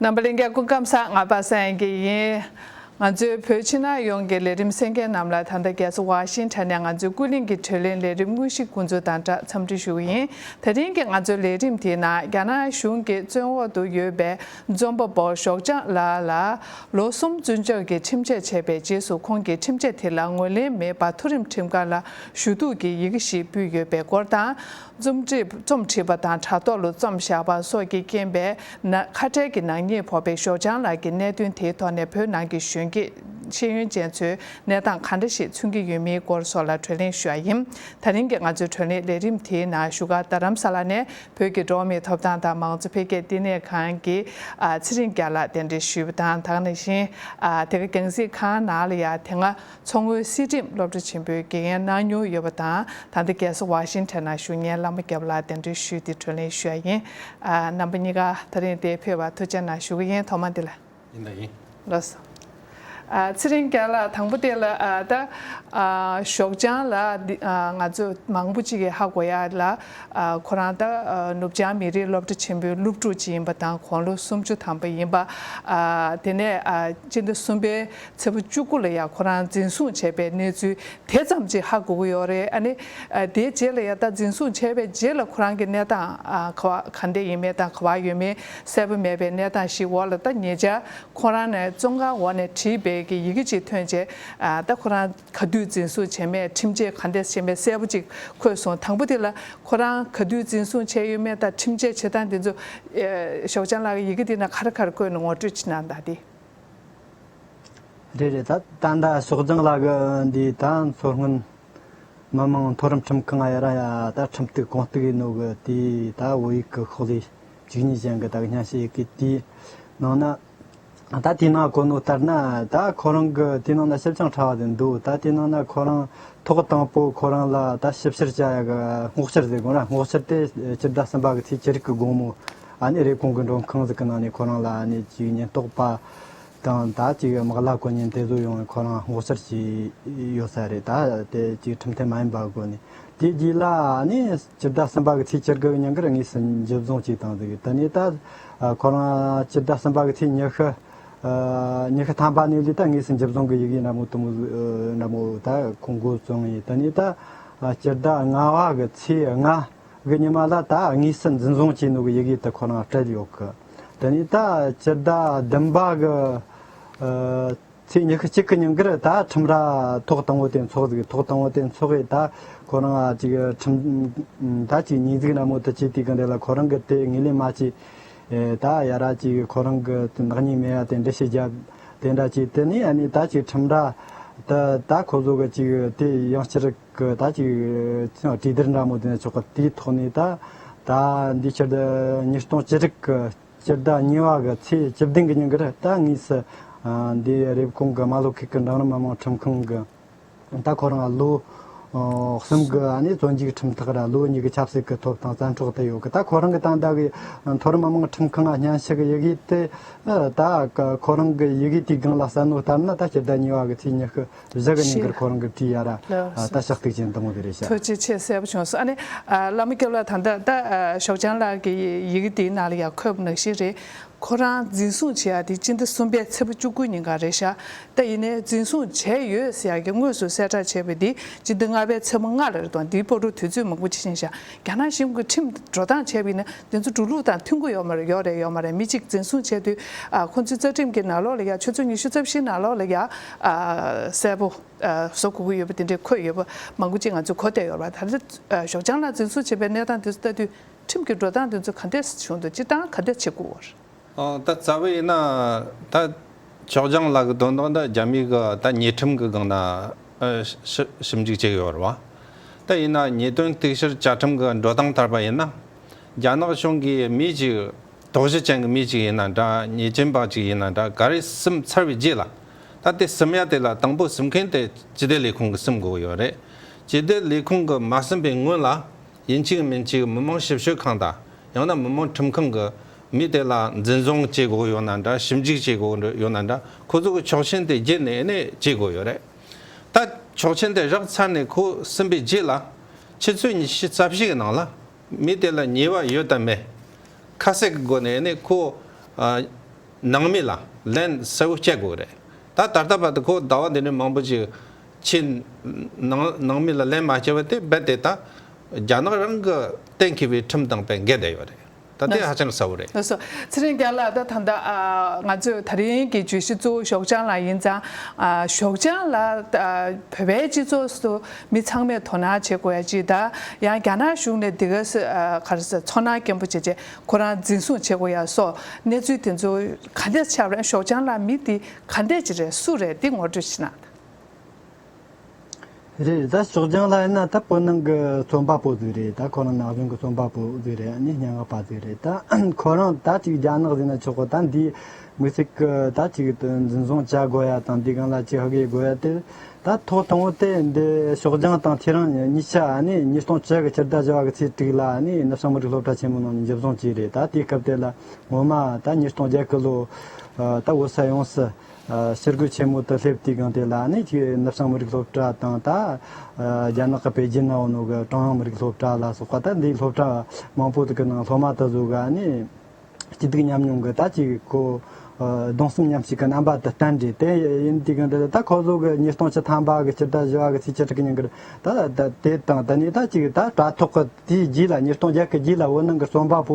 རྣམ་པ་ལེན་མཁན་སྐུ་ཁམས་གསང་སྔགས་པ་སངས་རྒྱས་ཡིན། ང་ཚོའི་བོད་ཕྱི་ནང་ཡོངས་ཀྱི་ལས་རིམ་སེལ་མཁན་རྣམས་ལ་ད་ལྟ་རྒྱལ་ས་ཝཱ་ཤིང་ཐན་ནས་ང་ཚོའི་ཀུན་གླེང་གི་གྲོས་གླེང་ལས་རིམ་དངོས་གཞི་སྐུ་འཚོ་དང་སྦྲགས་འཚམས་འདྲི་ཞུ་བ་ཡིན། ད་ཐེངས་ཀྱི་ང་ཚོའི་ལས་རིམ་དེའི་ནང་རྒྱ་ནག་གཞུང་གི་བཙོན་འོག་ཏུ་ཡོད་པའི་རྩོམ་པ་པོ་ཞོགས་ལྗང་ལགས་ལ་ལོ་གསུམ་བཙོན་འཇུག་གི་ཁྲིམས་ཆད་བྱས་པའི་རྗེས་སུ་ཁོང་གིས་ཁྲིམས་ཆད་དེ་ལ་ངོས་ལེན་མེད་པར་མཐོ་རིམ་ཁྲིམས་ཁང་ལ་ཞུ་གཏུག་གི་ཡི་གེ་ཞིག་ཕུལ་ཡོད་པའི་སྐོར་དང། རྩོམ་སྒྲིག་རྩོམ་བྲིས་པ་དང་དྲ་ཐོག་ལོ་རྩོམ་བཞག་པ་སོགས་ཀྱི་རྐྱེན་པས་ན་ཁ་བྲལ་གྱི་ནག་ཉེས་ཕོག་པའི་ཞོགས་ལྗང་ལགས་ཀྱིས་གནད་དོན་དེའི་ཐོག་ནས་བོད་ནང་གི་གཞོན་སྐྱེས་ཤེས་ཡོན་ཅན་ཚོའི་གནས་སྟངས་གང་འདྲ་ཞིག་མཚོན་གྱི་ཡོད་མིན་སྐོར་སོགས་ལ་གྲོས་གླེང་ཞུ་བ་ཡིན། ད་རིང་གི་ང་ཚོའི་གྲོས་གླེང་ལས་རིམ་དེའི་ནང་བཞུགས་སྒར་རྡ་རམ་ས་ལ་ནས་བོད་ཀྱི་འགྲོ་བ་མིའི་ཐོབ་ཐང་དང་མང་གཙོ་འཕེལ་རྒྱས་བསྟི་གནས་ཁང་གི་ཚེ་རིང་རྒྱ་ལགས་གདན་འདྲེན་ཞུས་པ་དང་དག་ནས་བཞིན་དེ་ག་རྒྱང་གཟིགས་ཁང་ནང་ལ་ཡང་དེ་སྔ་མཚོ་སྔོན་སྲིད་ཁྲིམས་སློབ་གྲྭ་ཆེན་པོའི་དགེ་རྒན་གནང་མྱོང་ཡོད་པ་དང་ད་ལྟ་རྒྱལ་ས་ཝཱ་ཤིང་ཐན་ན་བཞུགས་ངས་བླ་མ་སྐྱབས་ལགས་གདན་འདྲེན་ཞུས་ཏེ་དྲོད་ལེན་ཞུ་ཡ་ཡིན། རྣམ་པ་གཉིས་ཀ་ད་རིང་འདས་ཕེབས་བར་ཐུགས་ཆེ་གནང་ཞུ་གི་ཡིན་ཐོག་མ་འདི་ལ། ཡིན་དང་ཡིན། ལོ་སོ། ཚེ་རིང་རྒྱལ་ལགས་དང་པོ་དེ་ལ་ད། ཞོགས་ལྗང་ལགས་འདི་ང་ཚོས་མང་པོ་ཅིག་གི་ཧ་གོ་ཡ་ལ། ཁོ་རང་ད་ནུབ་བྱང་མི་རིགས་སློབ་གྲྭ་ཆེན་པོའི་སློབ་ཕྲུག་ཅིག་ཡིན་པ་དང་གོང་ལོ་སུམ་ཅུ་ཐམ་པ་ཡིན་པ། དེ་ནས་སྤྱི་ཟླ་གསུམ་པའི་ཚེས་བཅུ་དགུ་ལ་ཡང་ཁོ་རང་འཛིན་བཟུང་བྱས་པའི་གནས་ཚུལ་དེ་ཙམ་གཅིག་ཧ་གོ་གི་ཡོད་རེད་ཨ་ནི། དེའི་རྗེས་ལ་ཡང་ད་འཛིན་བཟུང་བྱས་པའི་རྗེས་ལ་ཁོ་རང་གི་གནས་སྟངས་ག་འདྲ་ཡིན་མིན་དང་ག་བར་ཡོད་མིན་གསལ་པོ་མེད་པའི་གནས་སྟངས་ཤིག་འོག་ལ་ད་ཉེ་ཆར་ཁོ་རང་ནས་བཙོན་ཁང་འོག་ནས་བྲིས་པའི་གི་ཡི་གེ་ཅིག་ཐོན་རྗེས་ད་ཁོ་རང་ག་དུས་འཛིན་བཟུང་བྱས་མེད་ཁྲིམས་ཆད་ག་འདྲས་བྱས་མེད་གསལ་པོ་ཅིག་འཁོད་སོང་དང་པོ་དེ་ལ་ཁོ་རང་ག་དུས་འཛིན་བཟུང་བྱས་ཡོད་མེད་དང་ཁྲིམས་ཆད་བྱེད་སྟངས་དེ་ཚོ། ཞོགས་ལྗང་ལགས་ཀྱི་ཡི་གེ་དེ་ན་ག་རེ་ག་རེ་བཀོད་ནས་ངོ་སྤྲོད་བྱེད་གནང་གདའ་སྟེ། རེད་རེད་ད་ད་ད་ཕྱོགས་རྒྱང་ལ་གི་འདི་ད་མཚོ་སྔོན་མི་དམངས་མཐོ་རིམ་ཁྲིམས་ཁང་ཡ་རང་ཡ་ད་ཁྲིམས་གཏུགས་གང་གཏུགས་ཡིན་ནོ་གི་དེ་ད་བོད་ཡིག་གི་ཤོག་ལྷེ་གཅིག་གཉིས་ཅན་གི་ད་གི་སྙན་ཤལ་ཡིག་གི་དེ་ནང་ན་ད་དེ་ནང་གོ་ནོ་ལྟར་ན་ད་ཁོ་རང་གི་དེ་ནང་ན་ཞིབ་ཅིང་ཕྲ་བ་དེ་འདུག་ད་དེ་ནང་ན་ཁོ་རང་ཐོག་དང་པོ་ཁོ་རང་ལ་ད་ཞིབ་བཤེར་བྱ་ཡ་གི་སྔོག་བཤེར་དེ་དགོངས་ར་སྔོག་བཤེར་དེ་སྤྱི་ཟླ་གསུམ་པ་གི་ཚེས་ཅི་རིགས་གི་དགོངས་མོ། ཨ་རིའི་གོང་གི་མགྲོན་ཁང་ཟིག་གི་ནང་ནས་ཁོ་རང་ལ་གཅིག་ཉེན་རྟོག་པ་དང་ད་ཅིག་དམག་ལྷ་དཀོན་གཉེར་འདེད་གསོད་ཡོང་བའི་ཁོ་རང་ངོ་ཚར་བྱས་ཡོད་ས་རེད་ད་དེ་ཅིག་ཁྲིམས་མཐུན་མ་ཡིན་པ་དགོས་ནས་དེ་རྗེས་ལ་སྤྱི་ཟླ་གསུམ་པ་གི་ཚེས་བཅིར་གི་ཉིན་གར་ངོས་སུ་འཇུ་བཟུང་ཅིག་བཏང་འདུག་ད་ནས་ད་ཁོ་རང་སྤྱི་ཟླ་གསུམ་པ་གི་ཚེས་ཉི་ཤུ་ཉི་ཤུ་ཐམ་པ་ནས་ལུས་ད་ངོས་སུ་འཇུ་བཟུང་གི་ཡི་གེ་འདྲ་མོ་དུམ་བུ་འདྲ་མོ་ད་ཁོང་མགོ་བཙུགས་ངེས་ད་ནས་ད་སྤྱི་ཟླ་ལྔ་བ་གི་ཚེས་ལྔ། གི་ཉི་མ་ལ་ད་དངོས་སུ་འཛིན་བཟུང་བྱས་འདུག་ཡི་གེ་དེ་ཁོ་རང་སྤྲད་ཡོད་གི། དེ་ནས་ད་སྤྱི་ཟླ་བདུན་པ་གི་ཚེས་ཉི་ཤུ་གཅིག་གི་ཉིན་འགར་ད་ཁྲིམས་ར་ཐོག་དང་བོ་དེ་འཚོགས་གི་ཐོག་དང་བོ་དེ་འཚོགས་ཡས་ད་ཁོ་རང་གཅིག་ཁྲིམས་ད་གཅིག་ཉིན་གཟིགས་ར་མོ་དེ་བྱས་དུས་གི་འདི་ལ་ཁོ་རང་གི་དེ་ངོས་ལེན་མ་བྱས་ད་ཡ་ར་གཅིག་ཁོ་རང་གི་ནག་ཉེས་མེད་ཡ་དེ་འདྲ་ཞིག་བརྒྱབ་དེ་འདྲ་བྱས་དེ་ནས་ཡ་ནས་ད་གཅིག་ཁྲིམས་ར་དེ་ད་ཁོ་ཚོ་གི་གཅིག་དེ་ཡང་སྤྱིར། གི་ད་ཅིག་གྲིབ་སྡེར་འདྲ་མོ་དེ་ཆོག་གི་དེའི་ཐོག་ནས་ད་ད་འདི་ཕྱི་ཟླ་ཉིས་སྟོང་བཅུ་དྲུག་གི་སྤྱི་ཟླ་གཉིས་བ་གི་ཚེས་བཅུ་བདུན་གྱི་ཉིན་འགར་ད་ངོས་སུ་འདི་རེབ་གོང་གི་རྨ་ལྷོ་ཁུལ་གྱི་འབྲིང་རིམ་མི་དམངས་ཁྲིམས་ཁང་གི་ད་ཁོ་རང་ལོ་གསུམ་གྱི་བཙོན་འཇུག་ཁྲིམས་ཐག་ར་ལོ་གཉིས་ཀྱི་ཆབ་སྲིད་ཀྱི་ཐོབ་ཐང་བཙན་འཕྲོག་དེ་ཡོད་གི་ད་ཁོ་རང་གི་ད་ད་གི་མཐོ་རིམ་མི་དམངས་ཁྲིམས་ཁང་ཨ་སྙན་ཞིག་ཡི་གེ་དེ་ད་ཁོ་རང་གི་ཡི་གེ་དེའི་སྒང་ལ་གསལ་ནོ་ལྟར་ན་ད་ཕྱི་ཟླ་གཉིས་བ་གི་ཚེས་ཉི་ཤུ་བཞག་གི་ནི་འགར་ཁོ་རང་གི་བཀྲིས་ཡ་ར་ད་ཤག་ཏིག་ཅན་དང་བོ་དེ་རེད་བྱ། ཐུགས་རྗེ་ཆེ་གསལ་པོ་བྱུང་སོང་ཨ་ནི་བླ་མ་སྐྱབས་ལགས་ད་ལྟ་ད་ཞོགས་ལྗང་ལགས་ཀྱི་ཡི་གེ་དེའི་ནང་ལ་ཡང་འཁོད་པ་ནང་བཞིན་རེད་ཁོ་རང་འཛིན་བཟུང་བྱས་ཡ་དེ་སྤྱི་ཟླ་གསུམ་པའི་ཚེས་བུ་བཅུ་དགུ་ཉིན་ག་རེད་ཤག་ཏག་ཡིན་ནའི་འཛིན་བཟུང་བྱས་ཡོད་ཟེར་ཡ་གི་དངོས་སུ་གསལ་བསྒྲགས་བྱས་པའི་དེ་སྤྱི་ཟླ་ལྔ་པའི་ཚེས་བུ་ལྔ་ལ་རེད་དོ་འདིའི་པོ་ཏོ་དུས་ཚོད་མང་པོ་ཕྱིན་ཤག་རྒྱ་ནག་གཞིམ་གི་ཁྲིམས་འགྲོ་སྟངས་བྱས་པ་ཡིན་ན་དེ་ཚོ་འགྲོ་ལུགས་དང་མཐུན་གོ་ཡོག་མ་རེད་ཡོག་རེད་ཡོག་མ་རེད་མི་གཅིག་འཛིན་བཟུང་བྱས་དུས་ཁོ་ཚོའི་རྩ་ཁྲིམས་ཀྱི་ནག་ལོག་ལ་ཡ་ཆུ་ཚོད་ཉི་ཤུ་རྩ་བཞིའི་ནག་ལོག་ལ་ཡ་གསལ་པོ་བཟོ་དགོས་ཀྱི་ཡོད་པ་དེ་འདྲའི་འཁོད་ཡོད་པ་མང་པོ་ཅིག་ང་ཚོས་གོ་བསྡད་ཡོད་རེད་ད་ལྟ་ཞོགས་ལྗང་ལགས་འཛིན་བཟུང་བྱས་པའི་གནས་སྟངས་དེ་ཚོ་ལྟ་དུས་ཁྲིམས་ཀྱི་འགྲོ་སྟངས་དེ་ཚོ་ག་འདྲའི་གཞུང་དུ་སྤྱི་སྟངས་ག་འདྲ་བྱེད་དགོས་རེད། ད་རྩ་བས་ན་ད་ཅོག་ལྗང་ལགས་ཀྱི་དོན་དག་འདི་རྒྱ་མིའི་གི་ད་ཉེས་ཁྲིམས་ཀྱི་སྒང་ན་ཞིབ་འཇུག་བྱེད་ཀྱི་ཡོད་རེད་བ། ད་ཡིན་ན་ཉེས་དོན་གཏུག་བཤེར་བཅའ་ཁྲིམས་ཀྱི་འགྲོ་སྟངས་ལྟར་པ་ཡིན་ན། རྒྱ་ནག་གཞུང་གི་མི་གཅིག་དོགས་གཞི་ཅན་གྱི་མི་གཅིག་ཡིན་ན་འདྲ་ཉེས་ཅན་པ་གཅིག་ཡིན་ན་འདྲ་ག་རེ་སིམ་ཚར་བའི་རྗེས་ལ། ད་དེ་སིམ་ཡ་དེ་ལ་དང་པོ་སིམ་མཁན་དེ་སྤྱི་བདེ་ལས་ཁུངས་ཀྱི་སིམ་དགོས་ཀྱི་ཡོད་རེད། སྤྱི་བདེ་ལས་ཁུངས་ཀྱི་མ་སིམ་པའི་སྔོན་ལ། ཡིན་གཅིག་མིན་གཅིག་མི་དམངས་ཞིབ་དཔྱོད་ཁང་དང་ཡང་ན་མི་དམངས་ཁྲིམས་ཁང་གི་མི་དེ་ལ་འཛིན་བཟུང་བྱེད་དགོས་ཡོད་ན་འདྲ་ཞིབ་འཇུག་བྱེད་དགོས་ཡོད་ན་འདྲ་ཁོ་ཚོ་གི་ཆོག་མཆན་དེ་བརྒྱུད་ནས་ནས་བྱེད་དགོས་ཡོད་རེད་ད། ཆོག་མཆན་དེ་བཞག་ཚར་ནས་ཁོ་སིམ་པའི་རྗེས་ལ། ཕྱི་ཚོད་ཉི་ཤུ་རྩ་བཞི་གི་ནང་ལ། མི་དེ་ལ་ཉེས་བ་ཡོད་དམ་མེད། ཁ་གསལ་གི་སྒོ་ནས་ནས་ཁོ། ནང་མི་ལ་ལན་གསལ་བོ་བསྐྱལ་དགོས་རེད་ད། ད་ལྟ་བར་དུ་ཁོ་ཟླ་བ་འདི་ནས་མང་པོ་ཞིག་ཆེས་ནང་མི་ལ་ལན་མ་བྱེད་པ་དེ་རྦད་དེ་ད་རྒྱ་ནག་རང་གི་གཏན་འཁེལ་བའི་ཁྲིམས་དང་བེད་འགེལ་བསྡད་ཡོད་རེད་ད་དེ་ཧ་ཅང་གསལ་བོ་རེད། ལགས་སོ། ཚེ་རིང་རྒྱ་ལགས་ད་ད་ལྟ་ང་ཚོས་ད་རིང་གི་བརྗོད་གཞི་གཙོ་བོ་ཞོགས་ལྗང་ལགས་ཡིན་ཙང། ཞོགས་ལྗང་ལགས་བོད་པའི་སྤྱི་ཚོགས་སུ་མི་ཚང་མས་དོ་སྣང་བྱེད་དགོས་ཡ་ཅི་ད་ཡང་རྒྱ་ནག་གཞུང་ནས་འདི་ག་ཚོར་སྣང་སྐྱེན་པོ་བྱེད་ཆེད་ཁོ་རང་འཛིན་བཟུང་བྱེད་དགོས་ཡ་སོགས་གནས་ཚུལ་དེ་ཚོ་ག་འདྲ་ཆགས་རན་ཞོགས་ལྗང་ལགས་མི་འདི་ག་འདྲ་ཅིག་རེད་སུ་རེད་འདི་ངོ་སྤྲོད་བྱེད་ན། རེད་ད་ཞོགས་ལྗང་ལྷ་ཡིན་ན་ད་བོད་ནང་གི་རྩོམ་པ་པོ་ཟིག་རེད་ད་ཁོ་རང་ནག་གཞུང་གི་རྩོམ་པ་པོ་ཟིག་རེད་ཨ་ནི་སྙན་ངག་པ་ཟིག་རེད་ད་ཁོ་རང་ད་ཅིག་རྒྱ་ནག་ཟིག་ན་ཆོག་གོ་ད་འདིའི་མི་ཟིག་གི་ད་ཅིག་འཛིན་བཟུང་བྱ་དགོས་ཡ་དང་འདི་གང་ལ་ཅིག་ཧ་གི་དགོས་ཡ་དེ་ད་ཐོག་དང་བོ་དེ་འདི་ཞོགས་ལྗང་དང་ཁྱེད་རང་གཉིས་ཆ་ཨ་ནི་ཉིས་སྟོང་བཅུ་གི་ཕྱི་ཟླ་བཞི་བ་གི་ཚེས་དྲུག་ལ་ཨ་ནི་ནུབ་བྱང་མི་རིགས་སློབ་གྲྭ་ཆེན་མོ་ནང་ནས་འཇིབ་བཟུང་བྱས་རེད་ད་དེའི་སྐབས་དེ་ལ་ངོ་མ་ད་ཉིས་སྟོང་བརྒྱད་གི་ལོ་ད་འོད་གསལ་ཡོང་སྲིད། གསེར་སྒོས་ཆེན་མོ་དུ་སླེབས་དུས་གང་དེ་ལ་ནི་ནུབ་བྱང་མི་རིགས་སློབ་གྲྭ་དང་ད་རྒྱ་ནག་གི་པེ་ཅིན་ནའོ་ནུའུ་གི་ཀྲུང་དབྱང་མི་རིགས་སློབ་གྲྭ་ལ་སོགས་པ་ད་འདིའི་སློབ་གྲྭ་མང་པོ་དག་གི་ནང་སློབ་མ་དག་གཟུགས་ཀ་ནི་སྐྱིད་སྡུག་མཉམ་མྱོང་གི་ད་ཅི་གོ་གདུང་སེམས་མཉམ་བསྐྱེད་ཀྱི་རྣམ་པ་དུ་བསྟན། དེ་ཡིན་དུས་གང་དེ་ལ་ད་ཁོ་གཟུགས་ཀྱི་ཉིས་སྟོང་ཆིག་ཐམ་པ་གི་སྤྱི་ཟླ་བཞི་བ་གི་ཚེས་བཅུ་དྲུག་ཉིན་གྱི་ད་དེ་དང་ད་ནི་ད་ཅི་གི་ད་དྲ་ཐོག་གི་དེའི་རྗེས་ལ་ཉིས་སྟོང་བརྒྱད་ཀྱི་རྗེས་ལ་འོད་སྣང་གི་རྩོམ་པ་པོ་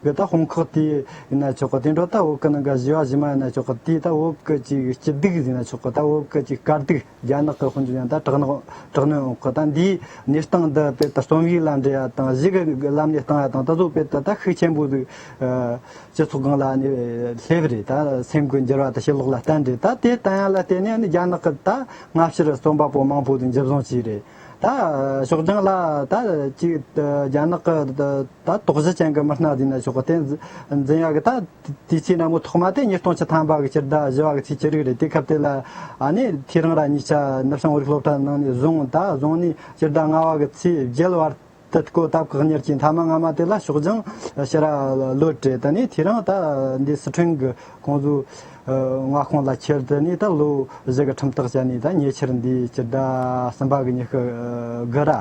གི་ད་ཧོང་ཁག་དེ་ཡི་ན་ཆོག་གོ་དེ་འདྲོག་ད་འོག་གི་ནང་ག་བཞི་བ་བཞི་མ་ཡི་ན་ཆོག་གོ་དེ་ད་འོག་གི་ཅིག་སྐྱི་སྡིག་བཞི་ན་ཆོག་གོ་ད་འོག་གི་ཅིག་དཀར་སྡིག་རྒྱ་ནག་གི་ཧོན་ཅུ་ཡང་ད་དྲག་ནག་དྲག་གནོན་འོག་གི་ད་འདིའི་གནས་སྟངས་འདི་དཔེ་ད་རྩོམ་ཡིག་ལ་འབྲེལ་ཡ་དང་གཞི་གི་ལམ་ནས་བཏང་ཡ་དང་ད་གཟུགས་དཔེ་ད་ད་ཤུགས་ཆེན་པོ་ཟིག་སྤྱི་ཚོགས་སྒང་ལ་ནས་སླེབས་པ་རེད་ད་སེམས་ཀུན་འགྱུར་བ་ད་ཤེས་ལོག་ལ་བལྟ་འདྲེ་ད་དེ་ལྟ་ཡ་ལ་བལྟས་ནས་ནི་རྒྱ་ནག་གི་ད་སྔ་ཕྱིར་རྩོམ་པ་པོ་མང་པོ་ཟིག་འཇིབ་བཟང་བྱས་རེད། ད་ཞོགས་ལྗང་ལ་ད་ཅིག་རྒྱ་ནག་གི་ད་དོགས་གཞི་ཅན་གྱི་མི་སྣ་བཟོས་ནས་ཞོགས་དེ་འཛིན་ཡག་གི་ད་དུས་ཆེ་ན་མོ་ཐོག་མ་དེ་ཉིས་སྟོང་ཆི་ཐམ་པ་གི་སྤྱིར་ད་བཞི་བ་གི་ཚེས་ཅི་རིགས་རེད་དེ་སྐབས་དེ་ལ་ནི་དེ་རང་ར་ཉིས་ཆ་ནུབ་བྱང་བོད་རིགས་སློབ་གྲྭ་ནང་ནས་བཟུང་ད་བཟུང་ནས་སྤྱིར་ད་ལྔ་བ་གི་ཚེས་བརྒྱད་བར་དེ་ཀོ་སྟབས་བཀག་ཉར་གྱིས་མཐའ་མ་སྔ་མ་དེ་ལ་ཕྱོགས་སྦྱང་ཕྱི་ར་ལོ་སྤྲད་དེ་ནས་དེ་རིང་ད་འདི་སི་ཁྲོན་གྱི་ཀོང་ཟུ་མངའ་ཁོངས་ལ་ཁྱེར་དེ་ནས་ད་ལོ་གཞི་གི་ཁྲིམས་ཐག་བཅད་ནས་ད་ཉེ་ཆར་འདི་སྤྱི་ཟླ་གསུམ་པ་གི་ཉི་ཤུ་དགུ་ར་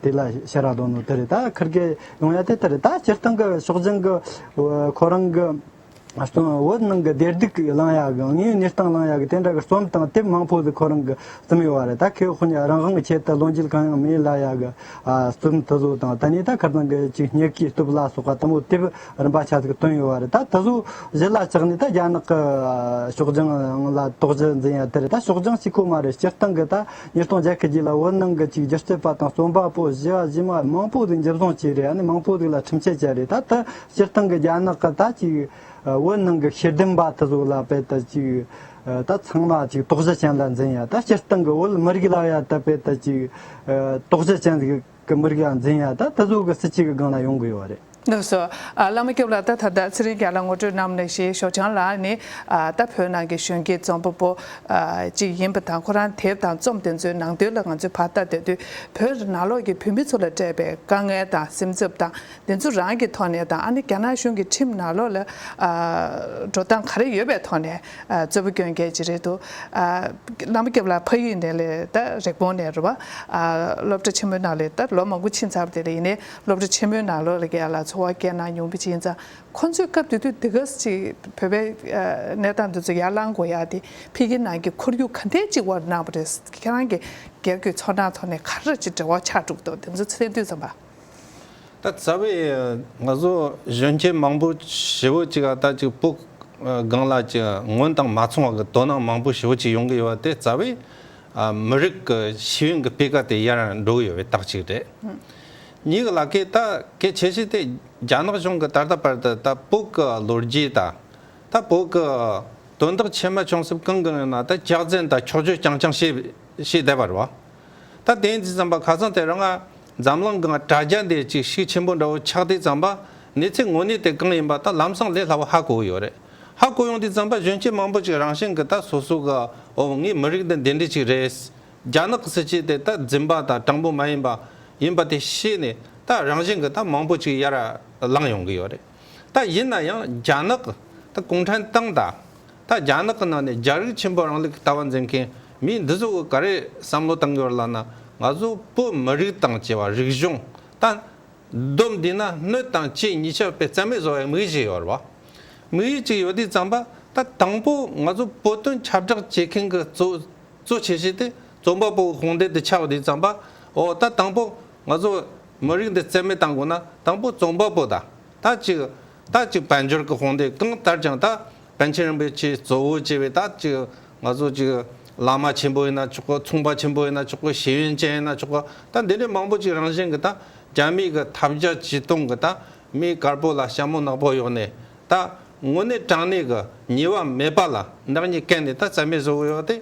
དེ་ལ་ཕྱི་ར་ལོ་ནོ་དེ་རེད་ད་ཁིར་གེ་ཡོང་ཡ་དེ་ད་རེད་ད་སྤྱིར་བཏང་གི་ཕྱོགས་སྦྱང་གི་ཁོ་རང་གི། བོད་ནང་གི་བདེ་སྡུག་གི་གླང་ཡག་གི་དངོས་གནས་སྟངས་གླང་ཡག་གི་དེ་འདྲ་གི་རྩོམ་དང་དེབ་མང་པོ་ཟིག་ཁོ་རང་གི་རྩོམ་ཡོད་བ་རེད་ད་ཁོས་ཧོ་ནི་རང་དབང་གི་ཆེད་དུ་ལོ་འཇིལ་གང་ཡང་མེད་གླ་ཡག་གི་རྩོམ་དེ་ཚོ་དང་ད་ནི་ད་ཁར་ཚང་གི་ཅིག་སྙེག་གི་སྟོབས་ལ་སོགས་པ་ལྟ་མོ་དེབ་རིམ་པ་ཆ་ཟིག་བཏོན་ཡོད་བ་རེད་ད་དེ་ཚོ་གཞི་ལ་ཆགས་ནས་ད་རྒྱ་ནག་གི་ཕྱོགས་ལྗང་ལ་དོགས་གཞི་འཛིན་ཡ་དེ་རེད་ད་ཕྱོགས་ལྗང་གཅིག་ཁོ་མ་རེད་སྤྱིར་བཏང་གི་ད་ཉིས་སྟོང་བརྒྱད་ཁི་རྗེས་ལ་བོད་ནང་གི་ཅིག་སྒྱུ་རྩལ་པ་དང་རྩོམ་པ་པོ་བཞི་བ་བཞི་མ་མང་པོ་ཟིག་འཇིབ་བཟང་བྱས་རེད་ཡ་ནི་མང་པོ་ཟིག་ལ་ཁྲིམས་ཆད་བཅད་རེད་ད་དེ་སྤྱིར་བཏང་གི་རྒྱ་ནག་གི་ད་ཅིག་བོད་ནང་གི་ཤེས་ལྡན་པ་དེ་ཚོ་ལ་དཔེ་ལྟ་ཅིག་ད་ཚང་མ་ཅིག་དོགས་གཞི་ཅན་ལ་འཛིན་ཡ་ད་སྤྱིར་བཏང་གི་བོད་མི་རིགས་ལ་ཡ་ད་དཔེ་ལྟ་ཅིག་དོགས་གཞི་ཅན་གྱི་མི་རིགས་ལ་འཛིན་ཡ་ད་དེ་ཚོ་གི་སྲིད་སྤྱི་གི་སྒང་ལ་ཡོང་གི་ཡོད་བ་རེད། ནུབ་སོ། བླ་མ་སྐྱོབ་ལ་ད་ད་ད་ཚེ་རིང་རྒྱ་ལ་ངོ་སྤྲོད་གནང་མི་ཞེས་ཞོགས་ཆང་ལགས་ནི་ད་བོད་ནང་གི་གཞོན་སྐྱེས་རྩོམ་པ་པོ་ཅིག་ཡིན་པ་དང་ཁོ་རང་དེབ་དང་རྩོམ་དེ་ཚོའི་ནང་དོན་ལ་ང་ཚོས་བར་ལྟ་བསྡད་དུས་བོད་ནང་ལོགས་ཀྱི་བོད་མི་ཚོ་ལ་སྤྲད་པའི་དཀའ་ངལ་དང་སེམས་འཚབ་དང་དེ་ཚོ་རང་གི་ཐོག་ནས་དང་ཨ་ནི་རྒྱ་ནག་གཞུང་གི་ཁྲིམས་ནག་ལོག་ལ་འགྲོ་སྟངས་ག་རེ་ཡོད་པའི་ཐོག་ནས་གཙོད་པོ་སྐྱོན་རྒྱལ་གྱི་རེད་དོ། བླ་མ་སྐྱབས་ལགས་ཕ་ཡུལ་ནས་ལས་ད་རེག་བོང་ནས་རེད་བ། སློབ་གྲ་ཆེན་མོའི་ནང་ལས་ད་ལོ་མང་པོ་ཕྱིན་ཚར་བ་དེ་ལ་ཡིན་ནའི་སློབ་གྲ་ཆེན་མོའི་ནང་ལོག་ལ་གལ་ལ་འཚོ་བ་སྐྱེལ་གནང་མྱོང་གི་ཕྱིན་ཚར་ཁོང་ཚོས་སྐབས་དེ་དུས་དེ་ག་ཟིག་བོད་པའི་གནས་སྟངས་དེ་ཚོ་ཡར་ལང་དགོས་ཡག་དེ་ཕི་གི་ནང་གི་ཁོར་ཡུག་ག་འདྲས་ཅིག་བར་གནང་བ་རེད་ཁྱེད་རང་གི་སྒེར་གྱི་ཚོར་སྣང་ཐོག་ནས་ག་རེ་ཅིག་འབྲེལ་བ་ཆགས་འདུག་དོ་དེ་ཚོ་ཚེ་དུས་ཙམ་པ། ད་ཚ་བའི་ང་ཚོ་གཞོན་སྐྱེས་མང་པོ་ཞེ་བོ་གཅིག་ཨ་ད་ཅིག་སྤུ་སྒང་ལ་ཅིག་སྔོན་དང་མ་མཚུངས་བ་གི་དོ་སྣང་མང་པོ་ཞེ་བོ་གཅིག་ཡོང་གི་ཡོད་བ་དེ་རྩ་བའི་མི་རིགས་ཀི་ཤེས་ཡོན་གི་སྤེལ་ཀ་དེ་ཡར་འགྲོ་གི་ཡོད་བའི་རྟགས་གཅིག་རེད། གཉིས་གི་ལ་ཀི་ད་གེ་ཆེ་ཤེས་དེ་རྒྱ་ནག་གཞུང་གི་ད་ལྟ་བར་དུ་ད་སྤུ་ཀི་ལོ་རྒྱུས་ད་ད་སྤུ་ཀི་དོན་དག་ཆེ་མ་ཆུང་སེབ་གང་གི་ཡོད་ན་ད་སྐྱག་རྫན་ད་འཁྱོག་འཁྱོག་རྐྱང་རྐྱང་བྱེད་བྱེད་བསྡད་པ་རེད་བ། ད་དེ་འདི་ཙམ་པ་ག་ཚང་དེ་རང་ཨ་འཛམ་གླང་གང་དྲ་རྒྱ་འདིར་གཅིག་བཤིག་ཆེན་པོ་འདྲ་བོ་ཆགས་འདི་བརྩམས་པ་ནི་ཚེ་ངོ་ནི་དེ་གང་ཡིན་པ་དང་ལམ་སང་ལས་སླ་བོ་ཧ་གོ་ཡོད་རེད་ཧ་གོ་ཡོང་འདི་བརྩམས་པ་གཞོན་སྐྱེས་མང་པོ་ཅིག་རང་བཞིན་གི་ད་སོ་སོ་ག་འོ་ངའི་མི་རིགས་འདི་འདི་འདྲི་ཅིག་རེད། རྒྱ་ནག་གི་སྲིད་སྤྱི་དེ་ད་རྫིན་པ་དང་དྲང་པོ་མ་ཡིན་པ་ཡིན་པ་དེ་ཤེས་ནས་ད་རང་བཞིན་གི་ད་མང་པོ་ཅིག་ཡར་ལངས་ཡོང་གི་ཡོད་རེད། ད་ཡིན་ན་ཡང་རྒྱ་ནག་ད་གུང་ཁྲན་ཏང་དང། ད་རྒྱ་ནག་གི་ནང་ནས་རྒྱ་རིགས་ཆེན་པོ་རང་ལུགས་ཀྱི་ལྟ་བ་འཛིན་མཁན་མི་འདི་ཚོ་ག་རེ་བསམ་བློ་བཏང་ཡོད་ལ་ན་ང་ཚོ་བོད་མི་རིགས་དང་བཅས་པ་རིག་གཞུང་དང། སྡོམ་འདི་ན་སྣོད་དང་ལྕེ་གཉིས་ཆགས་པའི་རྩལ་མེད་བཟོ་བའི་དམིགས་ཡིག་ཡོད་རེད་བ། དམིགས་ཡིག་ཅིག་ཡོད་དུས་བརྩམས་པ་ད་དང་པོ་ང་ཚོ་བོད་དོན་ཁྱབ་བསྒྲགས་བྱེད་མཁན་གྱི་གཙོ་བྱས་བྱས་ཏེ་རྩོམ་པ་པོ་དགོངས་འགྲེལ་དུ་ཆགས་པ་དུས་བརྩམས་པ་འོ་ད་དང་པོ་ང་ཚོ་མི་རིགས་འདི་རྩེ་མེད་བཏང་དགོས་ན་དང་པོ་རྩོམ་པ་པོ་དང་ད་ཅིག་ད་ཅིག་དཔལ་འབྱོར་གྱི་དཔུང་སྡེ་གང་ལྟར་ཀྱང་ད་པཎ་ཆེན་རིན་པོ་ཆེའི་གཙོ་བོ་བྱས་པའི་ད་ཅིག་ང་ཚོ་ཅིག་བླ་མ་ཆེན་པོ་ཡིན་ན་ཆོག་གོ་མཚུངས་པ་ཆེན་པོ་ཡིན་ན་ཆོག་གོ་ཤེས་ཡོན་ཅན་ཡིན་ན་ཆོག་གོ་ད་འདི་འདྲའི་མང་པོ་ཅིག་རང་བཞིན་གྱི་ད་རྒྱ་མིའི་གྱི་ཐབས་བརྒྱ་ཇུས་སྟོང་གི་ད་མིའི་དཀར་པོ་ལ་ཞྭ་མོ་ནག་པོ་གཡོགས་ནས་ད་དངོས་གནས་དྲང་གནས་གྱི་ཉེས་བ་མེད་པ་ལ་བདག་ཉིད་བཀལ་ནས་ད་རྩེ་མེད་བཟོ་གི་ཡོད་དེ།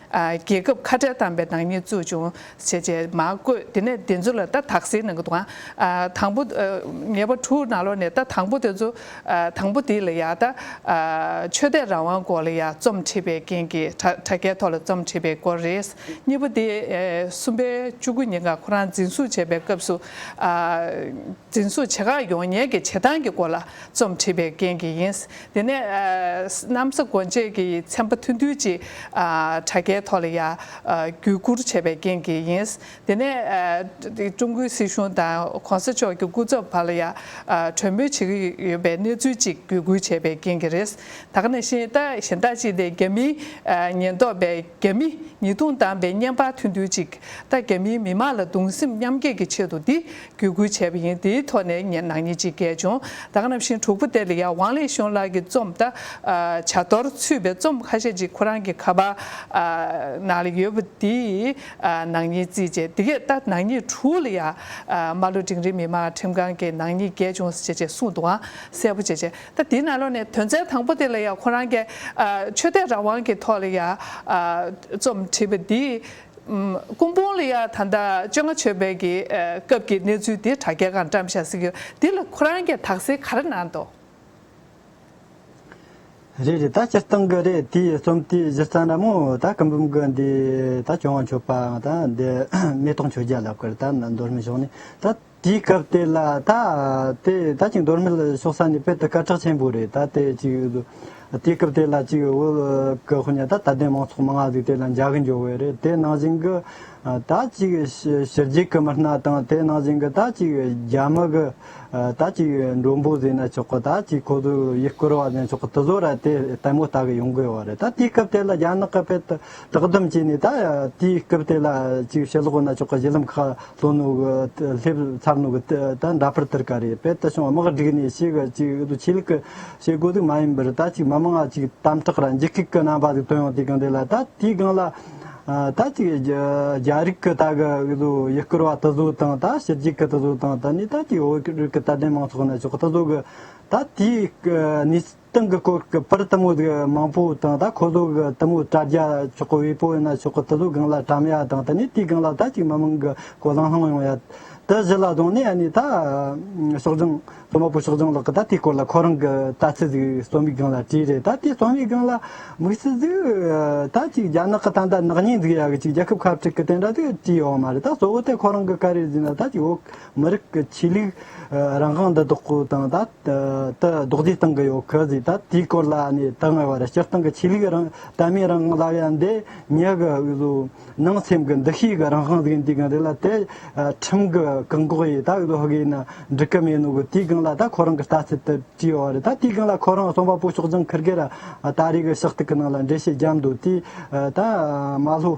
རྒྱལ་ཁབ་ཁ་བྲལ་བཏང་པའི་ནག་ཉེས་བཙུགས་བྱུང་ཞེས་ཅེས་མ་བཀོད་དེ་ནས་དེ་ཚོ་ལ་ལྟ་དག་ཟེར་ནང་གི་དང། དང་པོ། ཉེས་པ་དྲུག་ནང་ལོགས་ནས་ལྟ་དང་པོ་དེ་ཚོ། དང་པོ་དེ་ལ་ཡང་ལྟ། ཆོས་དད་རང་དབང་སྐོར་ལ་ཡང་རྩོམ་འཁྲིད་པའི་རྐྱེན་གྱིས་དྲ་རྒྱའི་ཐོག་ལ་རྩོམ་འཁྲིད་པའི་སྐོར་རེད། གཉིས་པ་དེ། གསུམ་པའི་བཅུ་དགུ་ཉིན་གང་ཁོ་རང་འཛིན་བཟུང་བྱས་པའི་སྐབས་སུ། འཛིན་བཟུང་བྱེད་ཁག་ཡོང་ཉེས་ཀྱི་བྱེད་སྟངས་ཀྱི་སྐོར་ལ་རྩོམ་འཁྲིད་པའི་རྐྱེན་གྱིས་ཡིན། དེ་ནས་གནམ་ས་གོ་འབྱེད་ཀྱི་ཚན་པ་ཐུན་ཐུན་གཅིག་དྲ་རྒྱའི་ཐོག་ལ་ཡརྒྱུད་བསྐུར་བྱས་པའི་རྐྱེན་གྱིས་ཡིན། དེ་ནས་ཀྲུང་གོའི་སྲིད་གཞུང་དང ྋགོང་ས་མཆོག་གི་སྐུ་ཚབ་བར་ལ་ཡར་གྲོས་མོལ་བྱེད་ཀྱི་ཡོད་པའི་གནས་ཚུལ་གཅིག་བརྒྱུད་བསྐུར་བྱས་པའི་རྐྱེན་གྱིས་རེད། ད་ག་ནས་གཞན་དག་ཅིག་སྟེ་རྒྱ་མིའི་ཉེན་རྟོག་པས་རྒྱ་མི་ཉིས་སྟོང་བདམས་པའི་བརྙན་པར་ཐུན་ཐུན་གཅིག་ད་རྒྱ་མིའི་མི་མང་ལ་གདུང་སེམས་མཉམ་སྐྱེད་ཀྱི་ཆེད་དུ་འདི་བརྒྱུད་སྐུལ་བྱས་པ་ཡིན་དེའི་ཐོག་ནས་ངས་ནག་ཉེས་ཅི་རྒྱལ་བྱུང་དག་རྣམས་ཤིང་དྲུག་པོ་ཏའེ་ལི་ཡཱ་ཝང་ལེགས་ཤོང་ལགས་ཀྱི་རྩོམ་ད་བྱ་གཏོར་ཚུད་པའི་རྩོམ་ཁ་ཤས་ཅིག་ཁོ་རང་གི་ཁ་པར་ནང་ལ་ཡོད་པ་འདིས་ནག་ཉེས་རྩིས་རྗེས་འདི་གས་ད་ནག་ཉེས་དྲུག་ལ་ཡར་མར་ལོ་འབྲིང་རིགས་མི་དམངས་ཁྲིམས་ཁང་གིས་ནག་ཉེས་རྒྱལ་བྱུང་ཟེར་ཅེས་གསུངས་འདུག་ཨང་གསལ་པོ་བྱས་རྗེས་ད་དེའི་ནང་ལོགས་ནས་དོན་ཚན་དང་པོ་ཏའེ་ལི་ཡཱ་ཁོ་རང་གི་ཆོས་དད་རང་དབང་གི་ཐོག་ལ་ཡར་རྩོམ་བྲིས་པ་འདིས། ཀུན་སྤོང་ལ་ཡང་ད་ལྟ་བཅོ་ལྔ་ཆོས་འཕེལ་གྱི་སྐབས་ཀྱི་གནས་ཚུལ་འདི་དྲ་རྒྱ་གང་བཀྲམ་བཞག་ཟིག་གི་འདི་ལ་ཁོ་རང་གྱི་དག་སེལ་ག་རེ་གནང་འདུག། རེད་རེད་ད་སྤྱིར་བཏང་གི་རེད་དེའི་རྩོམ་དེའི་གཞི་རྩ་ནི་མོ་ད་གི་འབུམ་གྱི་འདི་ད་བྱུང་བ་མཆོད་པའང་ད་འདི་མེ་ཏོག་མཆོད་བརྒྱ་ལབ་ཀྱི་རེད་ད་ནི་མདོ་སྨད་ཕྱོགས་ནས་ད། དེའི་སྐབས་དེ་ལ་ད་དེ་ད་ཅིག་མདོར་མི་ལ་ཞོག་ས་ནི་དཔེར་ད་སྐར་ཁྲག་ཆེན་པོ་རེད་ད་དེ་ཅིག་ཡོད་དོ། དེའི་སྐབས་དེ་ལ་ཅིག་འོད་ཀྱི་ཧོ་ཉ་ད་དད་ལྡན་མང་ཚོགས་མང་ང་ཟིག་དེ་ལ་འཇའ་གི་འཇོ་བོའི་རེད་དེ་ནང་བཞིན་གྱི། ད་ཅིག་ཞི་རྒྱས་ཀྱི་མི་སྣ་དང་དེ་ནང་བཞིན་གྱི་ད་ཅིག་རྒྱ་མི་གི། ད་ཅིག་མགྲོན་པོ་བཟོས་ན་ཆོག་གི་ད་ཅིག་ཁོ་ཚོས་ཡིད་བསྐུར་བ་བཟོས་ན་ཆོག་གི་དེ་ཚོ་ར་དེ་ལྟད་མོ་ལྟ་གི་ཡོང་དགོས་བ་རེད་ད་དེའི་སྐབས་དེ་ལ་རྒྱ་ནག་གི་དཔེ་ད་དྲག་སྡུམ་བྱས་ནས་ད་དེའི་སྐབས་དེ་ལ་ཅིག་ཞི་ལོག་ན་ཆོག་གི་གཞི་ལམ་ཁག་ལྷོ་ནུབ་ཀྱི་ལྷེབ་མཚར་ནུབ་ཀྱི་ད་འདྲ་ཕར་དིར་ག་རེད་དཔལ་དུ་ཞིང་བ་དམག་སྒྲིག་ནས་ཤི་གི་ཅིག་འདུག་ཆོས་ལུགས་ཀྱི་བྱེད་སྒོ་དུག་མ་ཡིན་པར་ད་ཅིག་མི་མང་ང་ཅིག་དམ་དྲག་ར་འཇིགས་སྐུག་གི་རྣམ་པ་དུག་དོན་ཡང་དེ་གང་དེ་ལ་ད་དེའི་སྒང་ལ་ད་ཅིག་རྒྱ་རིགས་ཀྱི་ད་གི་ཡུལ་སྐོར་བ་དི་བཟོ་དང་ད་ཕྱི་རྒྱིག་གི་དི་བཟོ་དང་ད་ནི་ད་ཅིག་བོད་རིགས་ཀྱི་དད་ལྡན་མང་ཚོགས་ནི་ཕྱོགས་དི་བཟོ་གི་ད་དེའི་གནས་ཏང་གི་སྐོར་གི་པར་ཏི་མོ་དགེ་མང་པོ་དང་ད་ཁོ་ལོ་གི་ཏི་མོ་དྲ་རྒྱ་ཆོག་གི་དབུས་པོ་ཡིན་ན་ཆོག་གི་ཏི་ལོ་གང་ལ་གྲམ་ཡ་དང་ད་ནི་དུས་གང་ལ་ད་ཅིག་མ་དམངས་གི་གོ་ལང་ལྷང་ཡོང་ཡ། ཏི་བཞི་ལ་དོང་ནས་ཨ་ནི་ད་ཤོག་ལྗང་ལྷོ་མ་པོ་ཤོག་ལྗང་ལགས་ཀྱི་ད་དེའི་སྐོར་ལ་ཁོ་རང་གི་ད་ཚི་ཟིག་རྩོམ་ཡིག་གང་ལ་བྲིས་རེད་ད་དེ་རྩོམ་ཡིག་གང་ལ་དམིགས་སུ་ཟིག་ད་ཅིག་རྒྱ་ནག་གི་ད་ད་ནག་ཉེས་འཛུགས་ཡ་གི་ཅིག་རྒྱལ་ཁབ་ཁ་བྲིག་གི་དེ་འདྲ་ཟིག་བྲིས་ཡོག་མ་རེད་ད་གཙོ་བོ་ཏི་ཁོ་རང་གི་ཀ་རེ་ཟིག་ན་ད་ཅིག་འོ། མི་རིགས་ཀྱི་ཆོས་ལུགས་རང་དབང་འདི་དག་གོ་དང་ད་ལྟ་རྡོག་རྫིས་སྟེང་གི་ཡོད་གི་ཟིག་ད་དེའི་སྐོར་ལ་ནི་ད་སྔ་བར་སྤྱིར་བཏང་གི་ཆོས་ལུགས་རང་དད་མི་རང་དབང་ལབ་ཡ་འདི་ཉག་གི་འུ་ཟོ་ནང་སེམས་ཀྱི་འདུ་ཤེས་ཀྱི་རང་དབང་ཟིག་འདི་གང་རེད་ལ་དེ་ཁྲིམས་ཀྱི་བཀག་འགོག་ཡིན་ད་འུ་ཟོ་ཧོག་གིས་ན་འགྲིག་གི་མེད་ནོ་གི་དེའི་སྒང་ལ་ད་ཁོ་རང་གི་ལྟ་ཚུལ་དེ་བྲིས་ཡོད་རེད་ད་དེའི་སྒང་ལ་ཁོ་རང་རྩོམ་པ་པོ་ཕྱོགས་རྒྱང་འཁེར་གི་ར་ད་རེས་ཀྱི་ཕྱག་ཐིག་གི་ནང་ལ་འགྲེལ་བཤད་བརྒྱབ་འདུག་དེས་ད་མ་ལྷོ།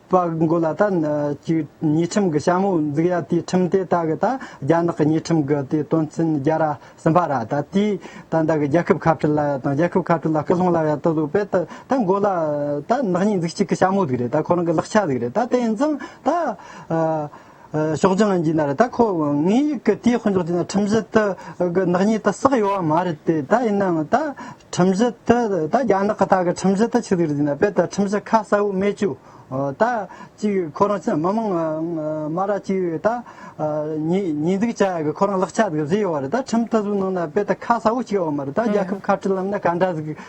པ་མགོ་ལ་ད་ཅིག་ཉིས་ཁྲིམས་ཀྱི་ཞྭ་མོ་འཛུགས་ཡ་དེའི་ཁྲིམས་དེ་ད་གི་ད་རྒྱ་ནག་གི་ཉིས་ཁྲིམས་ཀྱི་དེ་དོན་ཚན་བརྒྱ་ར་གསུམ་པ་ར་ད་དེའི་ད་ད་གི་རྒྱལ་ཁབ་ཁ་བྲལ་ལ་ཡ་དང་རྒྱལ་ཁབ་ཁ་བྲལ་ལ་སྐུ་སློང་ལ་ཡ་ད་ལུགས་པས་ད་ད་མགོ་ལ་ད་ནག་ཉིས་འཛུགས་གཅིག་གི་ཞྭ་མོ་ཟིག་རེད་ད་ཁོ་རང་གི་ལག་ཆ་ཟིག་རེད་ད་དེ་ཡིན་ཙང་ད། ཤོག་ཅང་གི་ནར་ད་ཁོ་ངའི་ཡིག་གི་དེ་ཧོན་ཅོག་ཅི་ན་ཁྲིམས་གཞི་དེ་གི་ནག་ཉེས་དེ་བསགས་ཡོད་བ་མ་རེད་དེ་ད་ཡིན་ནའང་ད་ཁྲིམས་གཞི་དེ་ད་རྒྱ་ནག་གི་ད་གི་ཁྲིམས་གཞི་དེ་ཆིག་ལེར་བཟོས་ན་དཔེ་ད་ཁྲིམས་གཞི་ཁ་གསལ་བོ་མེད་ཅུ་ད་ཅིག་ཁོ་རང་ཅི་མི་མང་མ་ར་ཅིག་ད་ཉེས་འཛུགས་བྱ་ཡག་གི་ཁོ་རང་ལག་ཆ་དེ་བཟོས་ཡོད་བ་རེད་ད་ཁྲིམས་དེ་བཟོས་གནང་ན་དཔེ་ད་ཁ་གསལ་བོ་ཞིག་ཡོད་བ་མ་རེད་ད་རྒྱལ་ཁབ་ཁ་བྲལ་ལམ་ན་ག་འདྲ་ཟིག་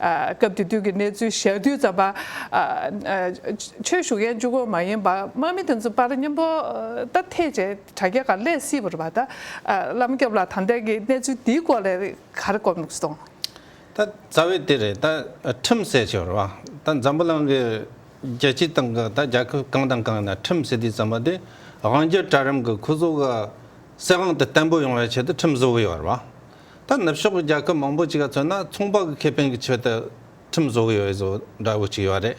སྐབས་དེ་དུས་ཀྱི་གནས་ཚུལ་ཞལ་བསྡུས་ཙམ་པ། ཆོས་ཞུ་མཁན་བཅུ་གོ་མ་ཡིན་པར་དམག་མི་དེ་ཚོ་པར་སྙིང་པོ་ལྟར་ཐེག་བྱས་དྲ་རྒྱ་ག་ལས་སྲིད་པར་བ་ད་བླ་མ་སྐྱབས་ལ་དམ་དྲག་གིས་གནས་ཚུལ་འདིའི་སྐོར་ལས་གར་བསྐོར་མུག་སོང། ད་རྩ་བའི་དེ་རེད་ད་ཁྲིམས་བསལ་བྱས་པར་བ་ད་འཛམ་བུ་གླང་གི་རྒྱལ་སྤྱིའི་སྟེང་གི་ད་རྒྱལ་ཁབ་གང་དང་གང་ཡིན་ན་ཁྲིམས་བསལ་དུས་ཙམ་པ་དེ་དབང་རྒྱལ་གྲལ་རིམ་གྱི་ཁུ་བཟོ་ག་གསལ་དབང་དུ་བརྟན་པོ་ཡོང་བའི་ཆེད་དུ་ཁྲིམས་བཟོ་གི་ཡོད་པར་བ། ད་ནུབ་ཕྱོགས་ཀྱི་རྒྱལ་ཁབ་མང་པོ་ཅིག་ལ་མཚོན་ན་ཚོང་པ་གི་ཁེ་ཕན་གྱི་ཆེད་དུ་ཁྲིམས་བཟོ་གི་ཡོད་བཟོ་འདྲ་བོ་ཅིག་ཡོད་རེད།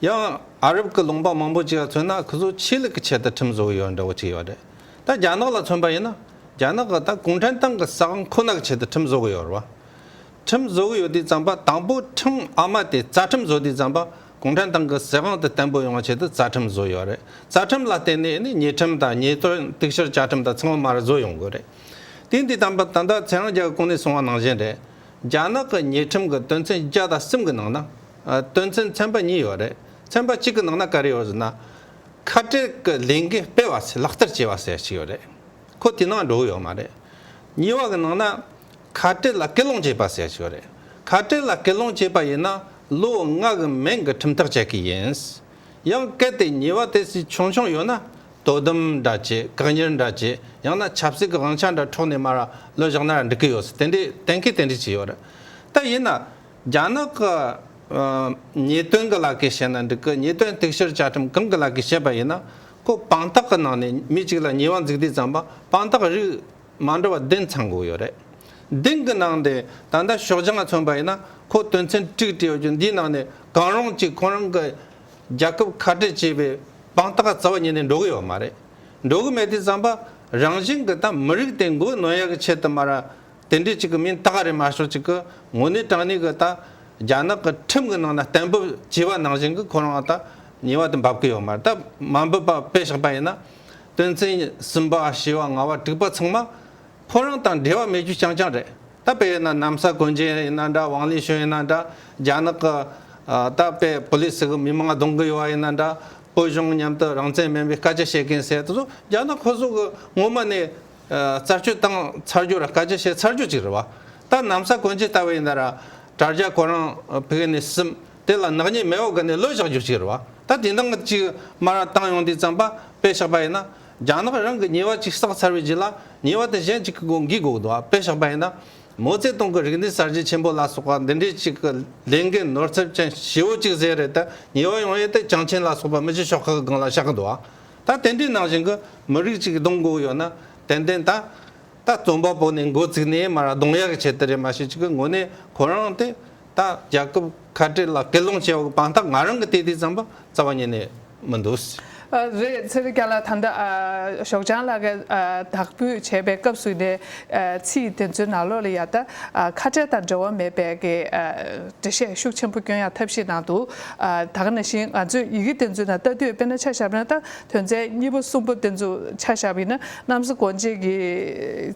ཡང་ཨ་རབ་ཀྱི་ལུང་པ་མང་པོ་ཅིག་ལ་མཚོན་ན་ཁོ་ཚོ་ཆོས་ལུགས་ཀྱི་ཆེད་དུ་ཁྲིམས་བཟོ་གི་ཡོད་འདྲ་བོ་ཅིག་ཡོད་རེད། ད་རྒྱ་ནག་ལ་མཚོན་པ་ཡིན་ན་རྒྱ་ནག་གི་ད་གུང་ཁྲན་ཏང་གི་ས་ཁང་ཁོ་ན་གི་ཆེད་དུ་ཁྲིམས་བཟོ་གི་ཡོད་རེད། ཁྲིམས་བཟོ་གི་ཡོད་དུས་ཙམ་པ་དང་པོ་ཁྲིམས་ཨ་མ་དེ་རྩ་ཁྲིམས་བཟོ་དུས་ཙམ་པ་གུང་ཁྲན་ཏང་གི་ཟི་ཧང་དེ་བརྟན་པོ་ཡོང་བ་ཆེད་དུ་རྩ་ཁྲིམས་བཟོ་ཡོད་རེད། རྩ་ཁྲིམས་ལ་བརྟེན་ནས་ནི་ཉེས་ཁྲིམས་དང་ཉེས་དོན་གཏུག་བཤེར་བཅའ་ཁྲིམས་དང་ཚང་མ་མར་བཟོ་ཡོང་དགོས་རེད། དེས་འདི་དམ་པ་ད་ལྟ་ཚེ་རང་རྒྱལ་གོང་ནས་གསུང་བ་ནང་བཞིན་རེད། རྒྱ་ནག་གི་ཉེས་ཁྲིམས་ཀྱི་དོན་ཚན་བརྒྱ་དང་གསུམ་གྱི་ནང་ན། དོན་ཚན་ཚན་པ་གཉིས་ཡོད་རེད། ཚན་པ་གཅིག་གི་ནང་ན་ག་རེ་ཡོད་ཟེར་ན། ཁ་བྲལ་གྱི་ལས་འགུལ་སྤེལ་བ་ཚོས་ལག་བསྟར་བྱས་པ་ཟེར་བ་ཞིག་ཡོད་རེད། ཁོ་དེ་ནང་འགྲོ་གི་ཡོད་མ་རེད། གཉིས་པ་གྱི་ནང་ན། ཁ་བྲལ་ལ་སྐུལ་སློང་བྱས་པ་ཟེར་བ་ཞིག་ཡོད་རེད། ཁ་བྲལ་ལ་སྐུལ་སློང་བྱས་པ་ཡིན་ན་ལོ་ལྔ་གི་མན་གྱི་ཁྲིམས་ཐག་བཅད་ཀྱི་ཡིན། ཡང་གལ་ཏེ་ཉེས་བ་དེ་སྲིད་ཆུང་ཆུང་ཡོད་ན་དོ་དམ་འདྲ་བྱེད་བཀག་ཉར་འདྲ་བྱེད་ཡང་ན་ཆབ་སྲིད་ཀྱི་དབང་ཆ་འདྲ་འཕྲོག་ནས་མ་ར་ལོ་བཞག་ན་འགྲིག་གི་ཡོད་སྲིད་དེ་འདྲའི་གཏན་འཁེལ་དེ་འདྲའི་བྱས་ཡོད་རེད་ད་ཡིན་ན། རྒྱ་ནག་གི་ཉེས་དོན་གྱི་ལག་ཁེ་བྱས་ན་འགྲིག་གི་ཉེས་དོན་གཏུག་བཤེར་བཅའ་ཁྲིམས་གང་གི་ལག་ཁེ་བྱས་པ་ཡིན་ན་ཁོ་དཔང་རྟགས་གྱི་ནང་ནས་མི་གཅིག་ལ་ཉེས་བ་འཛུགས་དུས་ཙམ་པ་དཔང་རྟགས་རིགས། མ་འགྲོ་བ་བདུན་ཚང་དགོས་ཡོད་རེད། བདུན་གྱི་ནང་དེ་ད་ལྟ་ཞོགས་ལྗང་མཚོན་པ་ཡིན་ན་ཁོ་དོན་ཚན་དྲུག་བྲིས་ཡོད་རྒྱུ་འདིའི་ནང་ནས་གང་རུང་གཅིག་ཁོང་རང་གི་རྒྱལ་ཁབ་ཁ་བྲལ་བྱས་པའི་དཔང་རྟགས་རྩ་བ་ཉིད་ནས་འགྲོ་གི་ཡོད་མ་རེད། འགྲོ་གི་མེད་དུས་བསམ་པ་རང་བཞིན་གྱི་ད་མི་རིགས་དེ་མགོ་གནོན་ཡག་གི་ཆེད་དུ་མ་ར་དེ་འདྲས་ཅིག་གི་མིན་ད་ག་རེ་མ་ཤོག་ཅིག་གི་ངོ་ནས་དྲང་ནས་གི་ད་རྒྱ་ནག་གི་ཁྲིམས་གི་ནང་ན་གཏན་འབེབས་བྱས་པ་ནང་བཞིན་གི་ཁོ་རང་ད་ཉེ་བ་དུ་འབབ་གི་ཡོད་མ་རེད་ད་མ་འབུབ་པ་དཔེ་བཞག་པ་ཡིན་ན། དོན་ཚན་གསུམ་པ་ཞེས་བ་ང་བ་དྲུག་པ་ཚང་མ་ཕོ་རང་དང་འབྲེལ་བ་མེད་རྒྱུ་རྐྱང་རྐྱང་རེད་ད་དཔེ་ཡིན་ན་གནམ་ས་གོན་ཇན་ཡིན་ན་འདྲ་ཝང་ལི་ཞོན་ཡིན་ན་འདྲ་རྒྱ་ནག་གི་ད་དཔེ་བོ་ལི་སི་གི་མི་མང་གདོང་གི་ཡོ་བ་ཡིན་ན་འདྲ་བོ་གཞུང་མཉམ་དུ་རང་བཙན་མིན་པའི་སྐད་ཆ་བཤད་མཁན་ཟེར་དུ་ཟོ་རྒྱ་ནག་ཁོ་ཟོ་གི་ངོ་མ་ནས་རྩ་བཅོས་བཏང་ཚར་རྒྱུ་ར་སྐད་ཆ་བཤད་ཚར་རྒྱུ་ཅིག་རེད་བ་ད་གནམ་ས་གོན་ཇན་ད་དཔེ་ཡིན་ན་ར་དྲ་རྒྱ་ཁོ་རང་བྷི་གི་ནི་སིམ། དེ་ལ་ནག་ཉེས་མེད་འོག་གི་ནས་ལོས་བཞག་རྒྱུ་ཞིག་རེད་བ། ད་དེ་འདང་ཅིག་སྨ་ར་བཏང་ཡོང་དུས་རྩམ་པ་པས་བཞག་པ་ཡིན་ན། རྒྱ་ནག་རང་གི་ཉེས་བ་ཅིག་བསགས་ཚར་བའི་རྗེས་ལ་ཉེས་བ་དེ་གཞན་ཅིག་གི་སྒོ་འགིག་འགོག་དུ་བ་པས་བཞག་པ་ཡིན་ན། མོ་རྩེ་སྟོང་གི་རིག་གནས་གསར་བརྗེ་ཆེན་པོ་ལ་སོགས་པ་འདི་འདྲའི་ཅིག་གི་ལས་འགན་ནོར་འཚེབ་ཅན་བྱེད་བོ་ཅིག་ཟེར་རེད་དེ་ཉེས་བ་ཡོང་ཡས་དེ་བྱང་ཆེན་ལ་སོགས་པ་མི་བྱེད་ཤོག་ཁག་གི་སྒང་ལ་བཞག་གི་འདུག་བ། ད་དེ་འདྲའི་ནང་བཞིན་གི་མི་རིགས་ཅིག་གདོང་འགོག་ཡོད་ན། དན་དན་ད། ད་རྩོམ་པ་པོ་ནི་འགོ་ཚུགས་ནས་མར་གདོང་ཡག་བྱེད་དེ་རེད་མ་ཤེས་ཅི་གི་ངོ་ནས་ཁོ་རང་དེ་ད་རྒྱལ་ཁབ་ཁ་བྲལ་ལ་སྐད་སློང་བྱེད་པ་གི་དཔང་རྟགས་ང་རང་གི་དེ་དུས་རྩམ་པ་རྩ་བ་ཉིད་ནས་མི་འདུག། རེད་སེར་སྐྱ་ལ་ད་ལྟ་ཞོགས་ལྗང་ལགས་ཀྱི་དག་འབུད་བྱས་པའི་སྐབས་སུ་ནས་ཚིག་དེ་ཚོའི་ནང་ལོགས་ལ་ཡང་ད་ཁ་བྲལ་དང་འབྲེལ་བ་མེད་པའི་གི་འགྲེལ་བཤད་ཤུགས་ཆེན་པོ་སྐྱོན་ཡང་ཐབས་ཤེས་གནང་འདུག་ད་ག་ནང་བཞིན་ང་ཚོས་ཡི་གེ་དེ་ཚོའི་ནང་ལྟ་དུས་དཔེར་ན་ཆ་ཞབས་རང་ལྟ་དོན་ཚན་གཉིས་པ་གསུམ་པོ་དེ་ཚོ་ཆ་བཞག་པ་ཡིན་ན་གནམ་ས་གོང་འབྱེད་ཀྱི་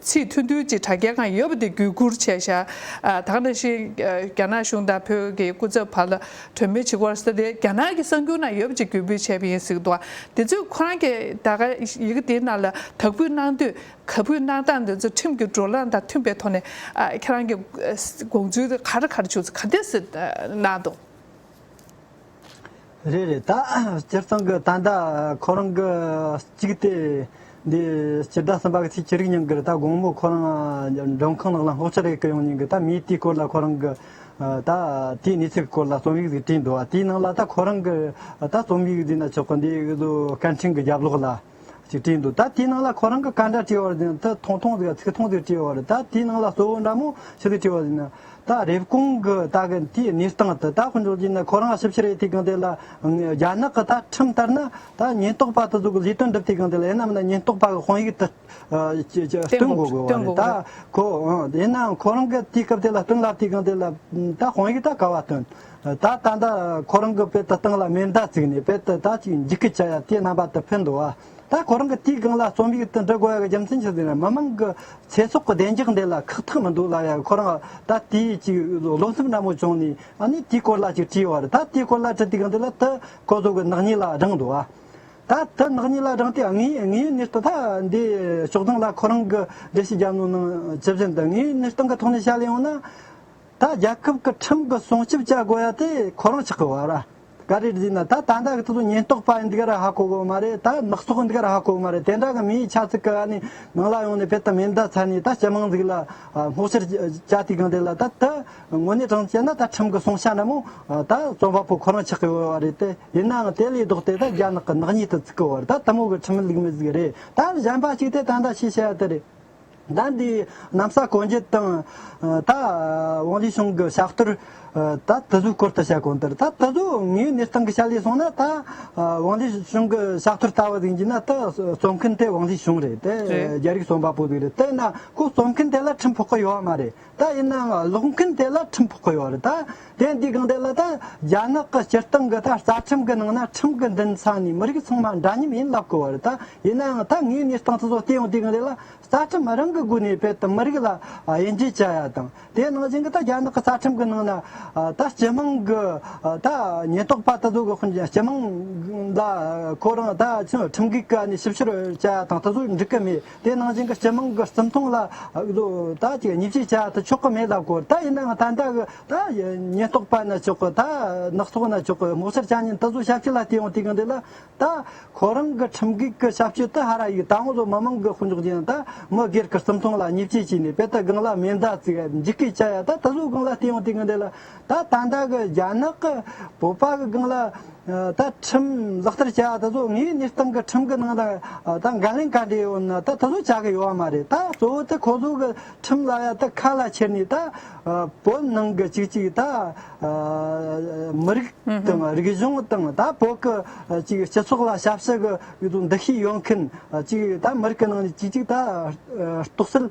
ཚིག་མཐུན་མཐུན་གཅིག་དྲ་རྒྱ་གང་ཡོད་པ་དེ་བརྒྱུད་བསྐུར་བྱས་བཞག་དང་ན་ཤིང་རྒྱ་ནག་གཞུང་དང་བོད་ཀྱི་སྐུ་ཚབ་བར་ལ་གྲོས་མོལ་བྱེད་སྐོར་ས་དེ་རྒྱ་ནག་གི་གསར་འགྱུར་ན་ཡོད་པ་གཅིག་བརྒྱུད་འབུལ་བྱས་པ་ཡིན་སྲིད་དོ་དེ་ཚོས་ཁོ་རང་གིས་ད་ག་ཡི་གེ་དེ་རྣམས་ལ་དག་འབུལ་གནང་དུས་ག་འབུལ་གནང་སྟངས་དེ་ཚོ་ཁྲིམས་ཀྱི་འགྲོ་ལམ་དང་མཐུན་པའི་ཐོག་ནས་ཁྱེད་རང་གི་དགོངས་ཚུལ་ག་རེ་ག་རེ་བྱུང་ཚུལ་ག་འདི་གནང་འདུག། རེད་རེད་ད། སྤྱིར་བཏང་གི་ད་ཟླ་ཁོ་རང་གི་གཅིག་དེ། འདི་སྤྱིར་ཟླ་གསུམ་པ་གི་ཚེས་བཅུ་རིག་ཉིན་གི་རེད་ད་དགོང་མོ་ཁོ་རང་མགྲོན་ཁང་ནང་ལ་སྔོག་ཆ་རེ་གི་ཡོང་ཉིན་གི་ད་མིའི་དེའི་སྐོར་ལ་ཁོ་རང་གི། ད་དེའི་གནས་ཚུལ་གི་སྐོར་ལ་རྩོམ་ཡིག་ཟིག་བྲིས་འདུག་བ་དེའི་ནང་ལ་ད་ཁོ་རང་གི། ད་རྩོམ་ཡིག་འདི་ན་ཆོག་གི་འདི་སྐད་འཕྲིན་གི་རྒྱབ་ལོག་ལ། ཅེས་བྲིས་འདུག་ད་དེའི་ནང་ལ་ཁོ་རང་གི་བཀའ་འདྲ་སྤྲེའུ་བར་ཟེར་ན་ཐོང་ཐོང་ཟེར་ག་ཚིག་ཐོང་ཟེར་སྤྲེའུ་བར་ད་དེའི་ནང་ལ་གཙོ་བོ་འདྲ་མོ་ཕྱི་ཚིག་སྤྲེའུ་བར་ཟེར་ན་ད་རེབ་གོང་གི་ད་གི་དེའི་གནས་སྟངས་དེ་ད་ཧུར་འགྲོ་རྒྱུ་ན་ཁོ་རང་ཞིབ་ཕྱིར་ཨེ་ཐུས་གང་དེ་ལ་རྒྱ་ནག་གི་ད་ཁྲིམས་ལྟར་ན་ད་ཉེན་རྟོག་པ་དེ་ཚོ་གི་ལས་དོན་སྒྲུབ་ཐུས་གང་དེ་ལ་ཡིན་ནམ་ན་ཉེན་རྟོག་པ་གི་དཔང་ཡིག་དེ་སྟོན་དགོས་དགོས་བ་རེད་ད་ཁོ་ཡིན་ནའང་ཁོ་རང་གི་དེའི་སྐབས་དེ་ལ་སྟོན་ལབ་ཐུས་གང་དེ་ལ་ད་དཔང་ཡིག་ད་ག་བ་སྟོན། ད་ལྟ་འདི་ཁོ་རང་གི་པད་ད་སྟེང་ལ་མེ་མདའ་བརྩིགས་ནས་པད་ད་ད་ཅིག་འཇིག་གི་བྱ་ཡ་དེ་རྣམ་པ་དུ་འཕེན་འདུག་ཨ། ད་ཁོ་རང་གི་དེའི་སྒང་ལ་རྩོམ་ཡིག་དུ་འབྲི་དགོས་ཡ་གི་རྒྱུ་མཚན་ཅི་ཟེར་ན་མི་མང་གི་ཚེ་སྲོག་གི་བདེ་འཇགས་འདི་ལ་ཁག་ཐེག་མི་འདུག་ལབ་ཡ་གི་ཁོ་རང་ད་དེ་ཅིག་བློ་སེམས་ནན་མོ་བྱུང་ནས་ཨ་ནི་དེའི་སྐོར་ལ་ཅིག་བྲིས་ཡོང་བ་རེད་ད་དེའི་སྐོར་ལ་བྲིས་དེ་སྒང་དེ་ལ་དུ་ཁོ་ཚོ་གི་ནག་ཉེས་ལ་བགྲངས་འདུག་ཨ། ད་དུ་ནག་ཉེས་ལ་བགྲངས་ཏེ་ངའི་ངའི་གནས་སྟངས་ད་འདི་ཕྱོགས་སྟངས་ལ་ཁོ་རང་གི་འགྲེལ་བཤད་རྒྱབ་ནང་ནང་ཇི་བཞིན་དུ་ངའི་གནས་སྟངས་གི་ཐོག་ནས་བཤད་ལེ་ཡོང་ན། ད་རྒྱལ་ཁབ་ཀྱི་ཁྲིམས་ཀྱི་སྲུང་སྐྱོབ་བྱ་དགོས་ཡ་དེ་ཁོ་རང་ཆགས་ཀྱི་བར་ག་རེ་རེད་ན་ད་ད་ལྟ་གི་ཚུལ་དུ་ཉེན་རྟོག་པ་འདི་ག་ར་ཧ་གོ་གི་མ་རེད་ད་ནག་ཚོགས་འདི་ག་ར་ཧ་གོ་གི་མ་རེད་དེ་འདྲ་གི་མིའི་ཆགས་ཚུལ་ག་ནི་ནང་ལ་ཡོང་ནས་ཕེབས་ཐབས་མེད་མདའ་ཚར་ནས་ད་སྤྱི་དམངས་ཚིག་ལ་སྔོག་ཕྱིར་བྱ་དུས་གང་དེ་ལ་ད་ད་དངོས་གནས་དྲང་བྱས་ན་ད་ཁྲིམས་ཀྱི་སྲུང་ཤ་འདྲ་མོ་ད་རྩོམ་པ་པོ་ཁོ་རང་ཆགས་ཀྱི་བར་རེད་དེ་ཡིན་ནའང་དེ་ལས་ལྡོག་སྟེ་ད་རྒྱ་ནག་གི་ནག་ཉེས་དུ་བརྩི་གི་བར་ད་ད་མོ་གི་ཁྲིམས་ལུགས་མི་བཟོ་གི་རེད་ད་གཞན་པ་གཅིག་དེ་ད་ད་ཤེས་བྱ་ཡ་དེ་རེད། ཟླ་འདིའི་གནམ་ས་གོན་རྒྱུ་དང། ད་ཝང་ལི་ཞུང་གི་ཕྱག་བསྟར། ད་དུ་བཟོའི་སྐོར་དུ་བྱས་གོང་ལྟར་ད་དུ་བཟོ་ངའི་གནས་སྟངས་ཀྱི་ཆ་ལས་སོང་ན་ད་ཝང་ལི་ཞུང་གི་ཕྱག་བསྟར་ལྟ་བུ་ཟིན་གྱི་ན་ད་རྩོམ་མཁན་དེ་ཝང་ལི་ཞུང་རེད་དེ་རྒྱ་རིགས་རྩོམ་པ་པོ་ཟིག་རེད་དེ་ན་ཁོ་རྩོམ་མཁན་དེ་ལ་ཁྲིམས་ཕོག་གི་ཡོད་མ་རེད། ད་ཡིན་ནའང་གློག་མཁན་དེ་ལ་ཁྲིམས་ཕོག་གི་ཡོད་རེད་དཱ། དེ་འདི་གང་དེ་ལ་ད་རྒྱ་ནག་གི་སྤྱིར་བཏང་གི་ད་རྩ་ཁྲིམས་གི་ནང་ན་ཁྲིམས་གི་མདུན་ས་ནས་མི་རིགས་ཚང་མ་འདྲ་མཉམ་ཡིན་ལབ་གི་ཡོད་རེད་དཱ། ཡིན་ནའང་ད་ངའི་གནས་སྟངས་དེ་ཚོ་བལྟས་ཡོང་དུས་གང་དེ་ལ་རྩ་ཁྲིམས་རང་གི་སྒོ་ནས་རྦད་དེ་མི་རིགས་ལ་དབྱེ་འབྱེད་བྱ་ཡ་དང་དེ་ནང་བཞིན་གྱི་ད་རྒྱ་ནག་གི་རྩ་ཁྲིམས་གི་ནང་ན་ད་སྤྱི་དམངས་གི་ད་ཉེན་རྟོག་པ་དེ་ཚོ་གི་སྤྱི་དམངས་ལ་ཁོ་རང་ད་ཁྲིམས་འགལ་གི་ནས་ཞིབ་བཤེར་བྱ་ཡ་དང་དེ་ཚོ་འགྲིག་གི་མེད། དེ་ནང་བཞིན་གྱི་སྤྱི་དམངས་ཀྱི་བརྩི་མཐོང་ལ་ད་ཅིག་ཉེས་བྱས་བྱ་ཐུབ་ཆོག་གི་མེད་ལ་གོ་ད་ཡིན་ནའང་ད་ལྟ་གི་ད་ཉེན་རྟོག་པ་ན་ཆོག་གི་ད་ནག་ཚོགས་ན་ཆོག་གི་དམག་སར་བྱ་ཉིན་ད་གཟོད་ཞབས་ཕྱི་ལ་བལྟས་འོང་དུས་གང་དུས་ལ་ད་ཁོ་རང་གི་ཁྲིམས་འགལ་གྱི་ཞབས་ཕྱི་དེ་ཧ་ར་ཡིག་ད་ང་ཚོ་མི་དམངས་ཀྱི་དཔུང་འཇོག་ཅན་ད་མི་སྒེར་གྱི་བརྩི་མཐོང་ལ་ཉེས་བྱས་བྱས་ནས་དཔེ་ལྟ་སྒང་ལ་མེ་མདའ་བརྩིགས་འཇིགས་སྐད་བྱ་ཡ་ད་ད་གཟོད་སྒང་ལ་བལྟས་འོང་དུས་གང་དུས་ལ་ད་ད་ལྟ་གི་རྒྱ་ནག་གི་བོད་པ་གི་སྒང་ལ་ད་ཁྲིམས་ལག་བསྟར་བྱ་བ་ད་གཟོད་ངའི་གནས་སྟངས་གི་ཁྲིམས་གི་ནང་ད་ད་འགན་ལེན་ག་འདྲས་ཡོད་ན་ད་ད་གཟོད་བྱ་གི་ཡོད་བ་མ་རེད་ད་གཙོ་བོ་ད་ཁོ་ཚོ་གི་ཁྲིམས་ལ་ཡ་ད་ཁ་ལ་ཁྱེར་ནས་ད་བོད་ནང་གི་ཅིག་ཅིག་ད་མི་རིགས་དང་རིག་གཞུང་དང་ད་བོད་གི་ཅིག་སྤྱི་ཚོགས་ལ་ཞབས་ཕྱི་གི་འདུ་ཤེས་ཡོད་མཁན་ཅིག་ད་མི་རིགས་གི་ནང་ནས་ཅིག་ཅིག་ད་གཏོགས་སེལ་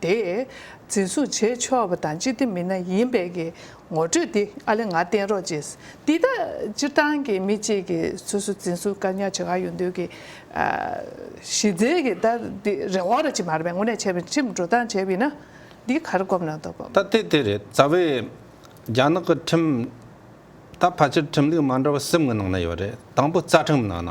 དེས་འཛིན་བཟུང་བྱེད་ཆོག་པ་དང་སྤྱི་བདེ་མི་སྣ་ཡིན་པའི་གི་ངོ་སྤྲོད་དེ་ཨ་ལེ་ང་བསྟན་རོགས་ཅེས་འདི་ལྟར་སྤྱིར་བཏང་གི་མི་གཅིག་གི་སོ་སོ་འཛིན་བཟུང་བཀག་ཉར་བྱེད་ག་ཡོད་འདོད་གི། གཞི་རྩའི་གི་ད་འདི་རེ་བ་ར་ཅིག་མ་རེད་པས་ངོ་ནས་བྱས་པའི་ཁྲིམས་འགྲོ་སྟངས་བྱས་པས་ན་འདི་གར་སྒོམ་ན་འདོད་པ། ད་དེ་དེ་རེད་རྩ་བའི་རྒྱ་ནག་གི་ཁྲིམས་ད་ཕལ་ཆེར་ཁྲིམས་ལུགས་མ་འདྲ་བ་གསུམ་གི་ནང་ན་ཡོད་རེད་དང་པོ་རྩ་ཁྲིམས་ནང་ན་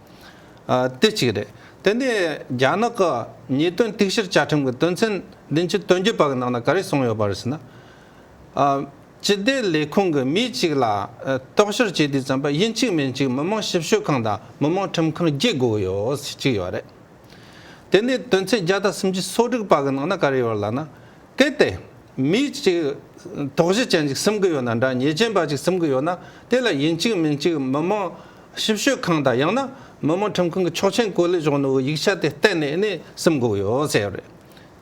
དེ་གཅིག་རེད། དེ་ནས་རྒྱ་ནག་གི་ཉེས་དོན་གཏུག་བཤེར་བཅའ་ཁྲིམས་ཀྱི་དོན་ཚན་བདུན་ཅུ་དོན་བརྒྱད་པ་གི་ནང་ན་ག་རེ་གསུངས་ཡོད་པ་རེད་ཟེར་ན། སྤྱི་བདེ་ལས་ཁུངས་ཀྱི་མི་གཅིག་ལ་རྟོག་བཤེར་བྱེད་དུས་ཙམ་པ་ཡིན་གཅིག་མིན་གཅིག་མི་དམངས་ཞིབ་དཔྱོད་ཁང་དང་མི་དམངས་ཁྲིམས་ཁང་བརྒྱད་དགོས་ཡོད་ཟེར་གཅིག་ཡོད་རེད། དེ་ནས་དོན་ཚན་བརྒྱ་དང་སུམ་ཅུ་སོ་དྲུག་པ་གི་ནང་ན་ག་རེ་ཡོད་ལ་ན། གལ་ཏེ། མི་གཅིག་དོགས་གཞི་ཅན་ཅིག་སེམས་ཀྱི་ཡོད་ན་འདྲ་ཉེས་ཅན་པ་ཅིག་སེམས་ཀྱི་ཡོད་ན་དེ་ལ་ཡིན་གཅིག་མིན་གཅིག་མི་དམངས། ཞིབ་དཔྱོད་ཁང་དང་ཡང་ན་མི་དམངས་ཁྲིམས་ཁང་གི་ཆོག་མཆན་བཀོད་ལེགས་གཞུང་ནོར་བུའི་ཡིག་ཆ་དེ་གཏན་ནས་གནས་སེམས་འགོག་ཡོད་བསལ་ཡོད་རེད།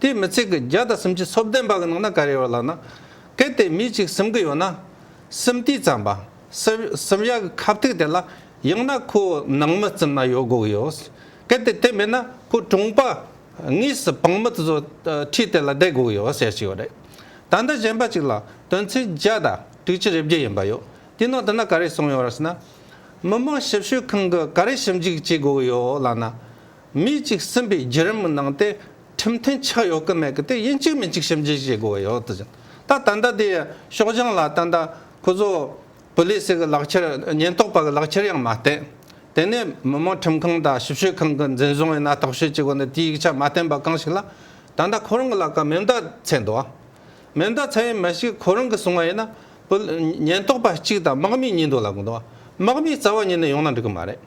དེས་མི་ཚེ་གི་རྒྱ་དང་སེམས་ཀྱི་ཚོབ་ལྡན་པ་གི་ནང་ན་ག་རེ་ཡོད་ལབ་ན། གལ་ཏེ་མི་གཅིག་སེམས་གི་ཡོད་ན། སེམས་ཏིག་ཙམ་པ། སེམས་ཡག་གི་ཁབ་ཐིག་དེ་ལ་ཡང་ན་ཁོ་ནང་མི་བཙུམ་ན་ཡོད་དགོས་གི་ཡོད། གལ་ཏེ་དེ་མེད་ན་ཁོ་གྲོངས་པ་ངོས་སུ་བང་མི་དེ་ཚོ་ཁྲིས་དེ་ལ་བསྡད་དགོས་གི་ཡོད་བསལ་ཞིག་ཡོད་རེད། ད་ལྟ་གཞན་པ་གཅིག་ལ་དོན་ཚན་བརྒྱ་དང་དྲུག་ཅུ་རེ་བརྒྱད་ཡིན་པ་ཡོད། དེ་ནང་དུ་ན་ག་རེ་སོང་ཡོད་རེད་ཟེར་ན། མི་དམངས་ཞིབ་དཔྱོད་ཁང་གིས་ག་རེ་ཞིབ་འཇུག་བྱེད་དགོས་ཀྱི་ཡོད་ལབ་ན། མི་གཅིག་གསུམ་པའི་བརྒྱུད་རིམ་གྱི་ནང་དེ་ཁྲིམས་མཐུན་ཆགས་ཡོད་ཀྱི་མེད་ཀྱི་དེ་ཡིན་གཅིག་མིན་གཅིག་ཞིབ་འཇུག་བྱེད་དགོས་ཀྱི་ཡོད་དུ་ཟིན། ད་ད་ལྟ་དེ་ཤོག་བྱང་ལ་ད་ལྟ་ཁོ་ཚོ་བུ་ལི་སི་གི་ལག་འཁྱེར་ཉེན་རྟོག་པ་གི་ལག་འཁྱེར་ཡང་མ་བསྟན། དེ་ནས་མི་དམངས་ཁྲིམས་ཁང་དང་ཞིབ་དཔྱོད་ཁང་གི་འཛིན་བཟུང་ཡིན་ན་རྟོག་དཔྱོད་བྱེད་དགོས་ནི་དེའི་ཡིག་ཆ་མ་བསྟན་པ་གང་ཞིག་ལ། ད་ད་ཁོ་རང་གི་ལག་ཀ་མེ་མདའ་ཚད་འདུག་ཨ། མེ་མདའ་ཚད་ཡིན་མི་ཞིག་ཁོ་རང་གིས་བཟུང་བ་ཡིན་ན། བུ། ཉེན་རྟོག་པ་གཅིག་དང་དམག་མི་གཉིས་འདུག་ལབ་གི་འདུག་དམག་མིའི་རྩ་བ་ཉིད་ནས་ཡོང་ན་འགྲིག་གི་མ་རེད།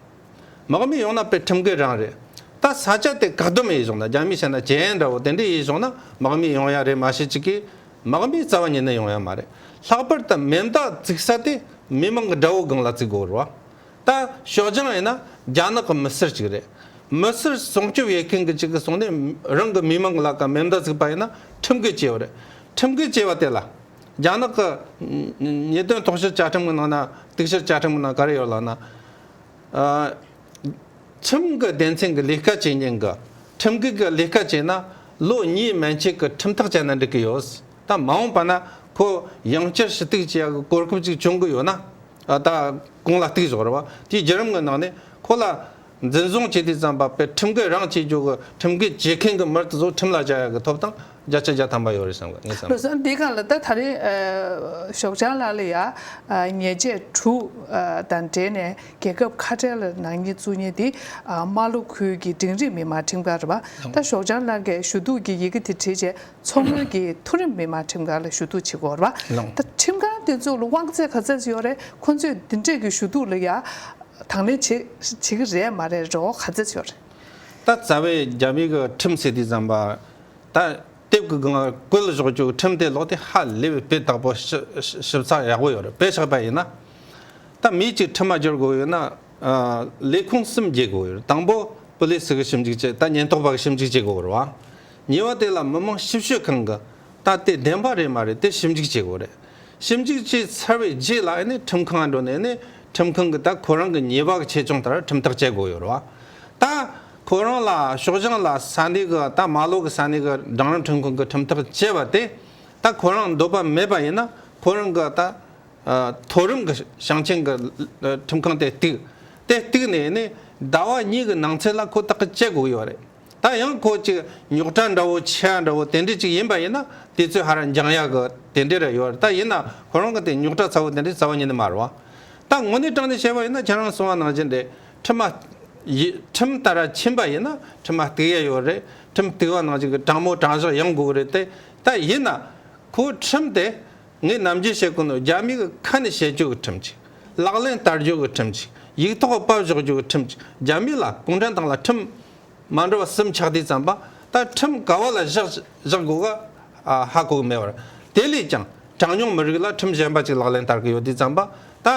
དམག་མི་ཡོང་ན་པའི་ཁྲིམས་འགལ་རང་རེད། ད་ས་ཆ་དེ་བཀག་སྡོམ་ཡིས་བཟུང་ན་རྒྱ་མིས་བྱས་ན་ཇེ་ཡན་འདྲ་བོ་དེ་འདྲས་ཡིས་བཟུང་ན་དམག་མི་ཡོང་ཡ་རེད་མ་བྱེད་ཅིག་གིས། དམག་མིའི་རྩ་བ་ཉིད་ནས་ཡོང་ཡ་མ་རེད། ལྷག་པར་དུ་མེ་མདའ་བརྩིགས་ས་དེ་མི་མང་གི་དགྲ་བོའི་སྒང་ལ་བརྩིགས་དགོས་རུ་བ། ད་ཞོགས་ལྗང་ཡིན་ན་རྒྱ་ནག་གི་མི་སེར་གཅིག་རེད། མི་སེར་སྲུང་སྐྱོབ་ཡས་མཁན་གི་གཅིག་གིས་སོང་ནས་རང་གི་མི་མང་གི་ལག་ག་མེ་མདའ་བརྩིགས་པ་ཡིན་ན་ཁྲིམས་འགལ་བྱས་བ་རེད། ཁྲིམས་འགལ་བྱས་བ་དེ་ལ། རྒྱ་ནག་གི་ཉེས་དོན་དོགས་གཞི་བཅའ་ཁྲིམས་ཀྱི་ནང་ན་གཏུག་བཤེར་བཅའ་ཁྲིམས་ཀྱི་ནང་ག་རེ་ཡོད་ལབ་ན། ཁྲིམས་ཀྱི་སྡེ་ཚན་གྱི་ལས་ཀ་བྱེད་མཁན་གྱི་ཁྲིམས་སྒྲིག་གི་ལས་ཀ་བྱས་ན་ལོ་གཉིས་མན་ཆད་ཀྱི་ཁྲིམས་ཐག་བཅད་ན་འགྲིག་གི་ཡོད། ད་མ་འོངས་པ་ན་ཁོ་ཡང་བསྐྱར་ཞུ་གཏུག་བྱེད་ཡག་གི་གོ་སྐབས་ཅིག་བྱུང་གི་ཡོད་ན། ད་གང་ལ་གཏུག་བཞག་རོགས། དེའི་རྒྱུད་རིམ་གྱི་ནང་ནས་ཁོ་ལ། འཛིན་བཟུང་བྱས་དུས་བརྩམས་པ་པའི་ཁྲིམས་འགལ་རང་བྱེད་རྒྱུ་གི་ཁྲིམས་འགལ་བྱེད་མཁན་གྱི་མིར་བཟོ་ཁྲིམས་ལ་བྱ་ཡག་གི་ཐོབ་ཐང་བརྒྱ་ཆ་བརྒྱ་ཐམ་པ་ཡོད་རེད་བསམ་གི་ངས་བསམ། བཟོ་འདི་ག་ལ་ད་ད་རེས་ཞོགས་ལྗང་ལགས་ལ་ཡང་ཉེས་ཆད་དྲུག་དང་འབྲེལ་ནས་རྒྱལ་ཁབ་ཁ་བྲལ་ནང་ཉིད་བཙུགས་ཉིན་འདི་རྨ་ལྷོ་ཁུལ་གྱི་འབྲིང་རིམ་མི་དམངས་ཁྲིམས་ཁང་རེད་པ་ད་ཞོགས་ལྗང་ལགས་ཀས་ཞུ་གཏུག་གི་ཡི་གེ་དེ་བྲིས་རྗེས་མཚོ་སྔོན་གྱི་མཐོ་རིམ་མི་དམངས་ཁྲིམས་ཁང་ལ་ཞུ་གཏུག་བྱེད་དགོས་རེད། ད་ཁྲིམས་ཁང་དེ་ཚོ་ལ་དབང་ཚད་ག་ཚད་ཅིག་ཡོད་རེད་ཁོ་ཚོས་འདི་འདྲས་ཀྱི་ཞུ་གཏུག་ལ་ཡང་དང་ལེན་བྱེད་ཀྱི་རེད་མ་རེད་རེ་བ་ག་ཚད་ཅིག་ཡོད་རེད། ད་རྩ་བའི་རྒྱ་མི་གི་ཁྲིམས་སྲིད་དུས་བཟང་པ། ད་དེབ་གི་སྒང་བཀོད་ལ་གཞོག་རྒྱུ་ཁྲིམས་དེ་ལོག་དེ་ཧ་ལས་པའི་དཔེ་དག་པོ་ཞིབ་ཚགས་ཡག་པོ་ཡོད་རེད་དཔེ་ཆགས་པ་ཡིན་ན། ད་མི་གཅིག་ཁྲིམས་མ་སྒྱུར་དགོས་ཡོད་ན། ལས་ཁུངས་གསུམ་རྒྱས་དགོས་ཡོད་རེད་དང་པོ་པུ་ལིས་གི་ཞིབ་འཇུག་བྱེད་ད་ཉེན་རྟོག་པ་གི་ཞིབ་འཇུག་བྱེད་དགོས་རེད་བ། ཉེས་བ་དེ་ལ་མི་དམངས་ཞིབ་དཔྱོད་ཁང་གི་ད་ལྟའི་བདེན་པ་རེད་མ་རེད་དེ་ཞིབ་འཇུག་བྱེད་དགོས་རེད། ཞིབ་འཇུག་བྱས་ཚར་བའི་རྗེས་ལ་ཨ་ནི་ཁྲིམས་ཁང་ཨ་འགྲོ་ནས་ཨ་ནི་ཁྲིམས་ཁང་གིས་ད་ཁོ་རང་གི་ཉེས་པ་གི་ཆེད་སྦྱོང་ལྟར་ཁྲིམས་ཐག་བཅད་དགོས་ཡོད་རེད་བ། ད་ཁོ་རང་ལ་ཤོག་བྱང་ལ་ས་གནས་གི་ད་མ་ལོག་གི་ས་གནས་གི་རང་རང་ཁྲིམས་ཁང་གིས་ཁྲིམས་ཐག་བཅད་པ་དེ་ད་ཁོ་རང་འདོད་པ་མེད་པ་ཡིན་ན་ཁོ་རང་གི་ད་མཐོ་རིམ་གི་ཞིང་ཆེན་གི་ཁྲིམས་ཁང་དེ་གཏུགས། དེ་གཏུགས་ནས་ཨ་ནི་ཟླ་བ་གཉིས་གི་ནང་ཚེད་ལ་ཁོ་ཐག་བཅད་དགོས་ཡོད་རེད། ད་ཡང་ཁོ་ཅིག་ཉོག་དྲ་འདྲ་བོ་ཆེ་འདྲ་བོ་དེ་འདྲས་ཅིག་ཡིན་པ་ཡིན་ན་དེ་ཚོས་ཧ་ར་འགྱང་ཡག་གི་དེ་འདྲས་ར་ཡོད་ད་ཡིན་ན་ཁོ་རང་གི་དེ་ཉོག་དྲ་ཚ་བོ་དེ་འདྲས་ཚ་བ་ཉིད་ནས་མ་རུང་བ། ད་ངོ་ནས་དྲང་ནས་བཤད་པ་ཡིན་ན་ཁྱེད་རང་གསུང་བ་ནང་བཞིན་རེད་ཁྲིམས་མ། ཁྲིམས་ལྟར་ར་ཕྱིན་པ་ཡིན་ན་ཁྲིམས་མ་གཏུགས་ཡས་ཡོད་རེད་ཁྲིམས་གཏུགས་བ་ནང་བཞིན་གི་དྲང་མོ་དྲང་བཞག་ཡང་དགོས་གི་རེད་དེ་ད་ཡིན་ན། ཁོ་ཁྲིམས་དེ། ངས་ནམ་རྒྱུན་བཤད་ཀུན་ཏུ་རྒྱ་མིའི་གི་ཁ་ནས་བཤད་རྒྱུ་གི་ཁྲིམས་ཅིག། ལག་ལེན་བསྟར་རྒྱུ་གི་ཁྲིམས་ཅིག་ཡིག་ཐོག་དཔར་བཞག་རྒྱུ་གི་ཁྲིམས་ཅིག་རྒྱ་མི་ལ་གུང་ཁྲན་ཏང་ལ་ཁྲིམས། མ་འགྲོ་བ་སུམ་ཆགས་དེ་ཙམ་པ་ད་ཁྲིམས་ག་བ་ལ་བཞག་བཞག་དགོས་ག་ཧ་གོ་གི་མེད་བར། དེ་ལས་ཀྱང་གྲངས་ཉུང་མི་རིགས་ལ་ཁྲིམས་གཞན་པ་ཅིག་ལག་ལེན་བསྟར་གི་ཡོད་དེ་ཙམ་པ་ད།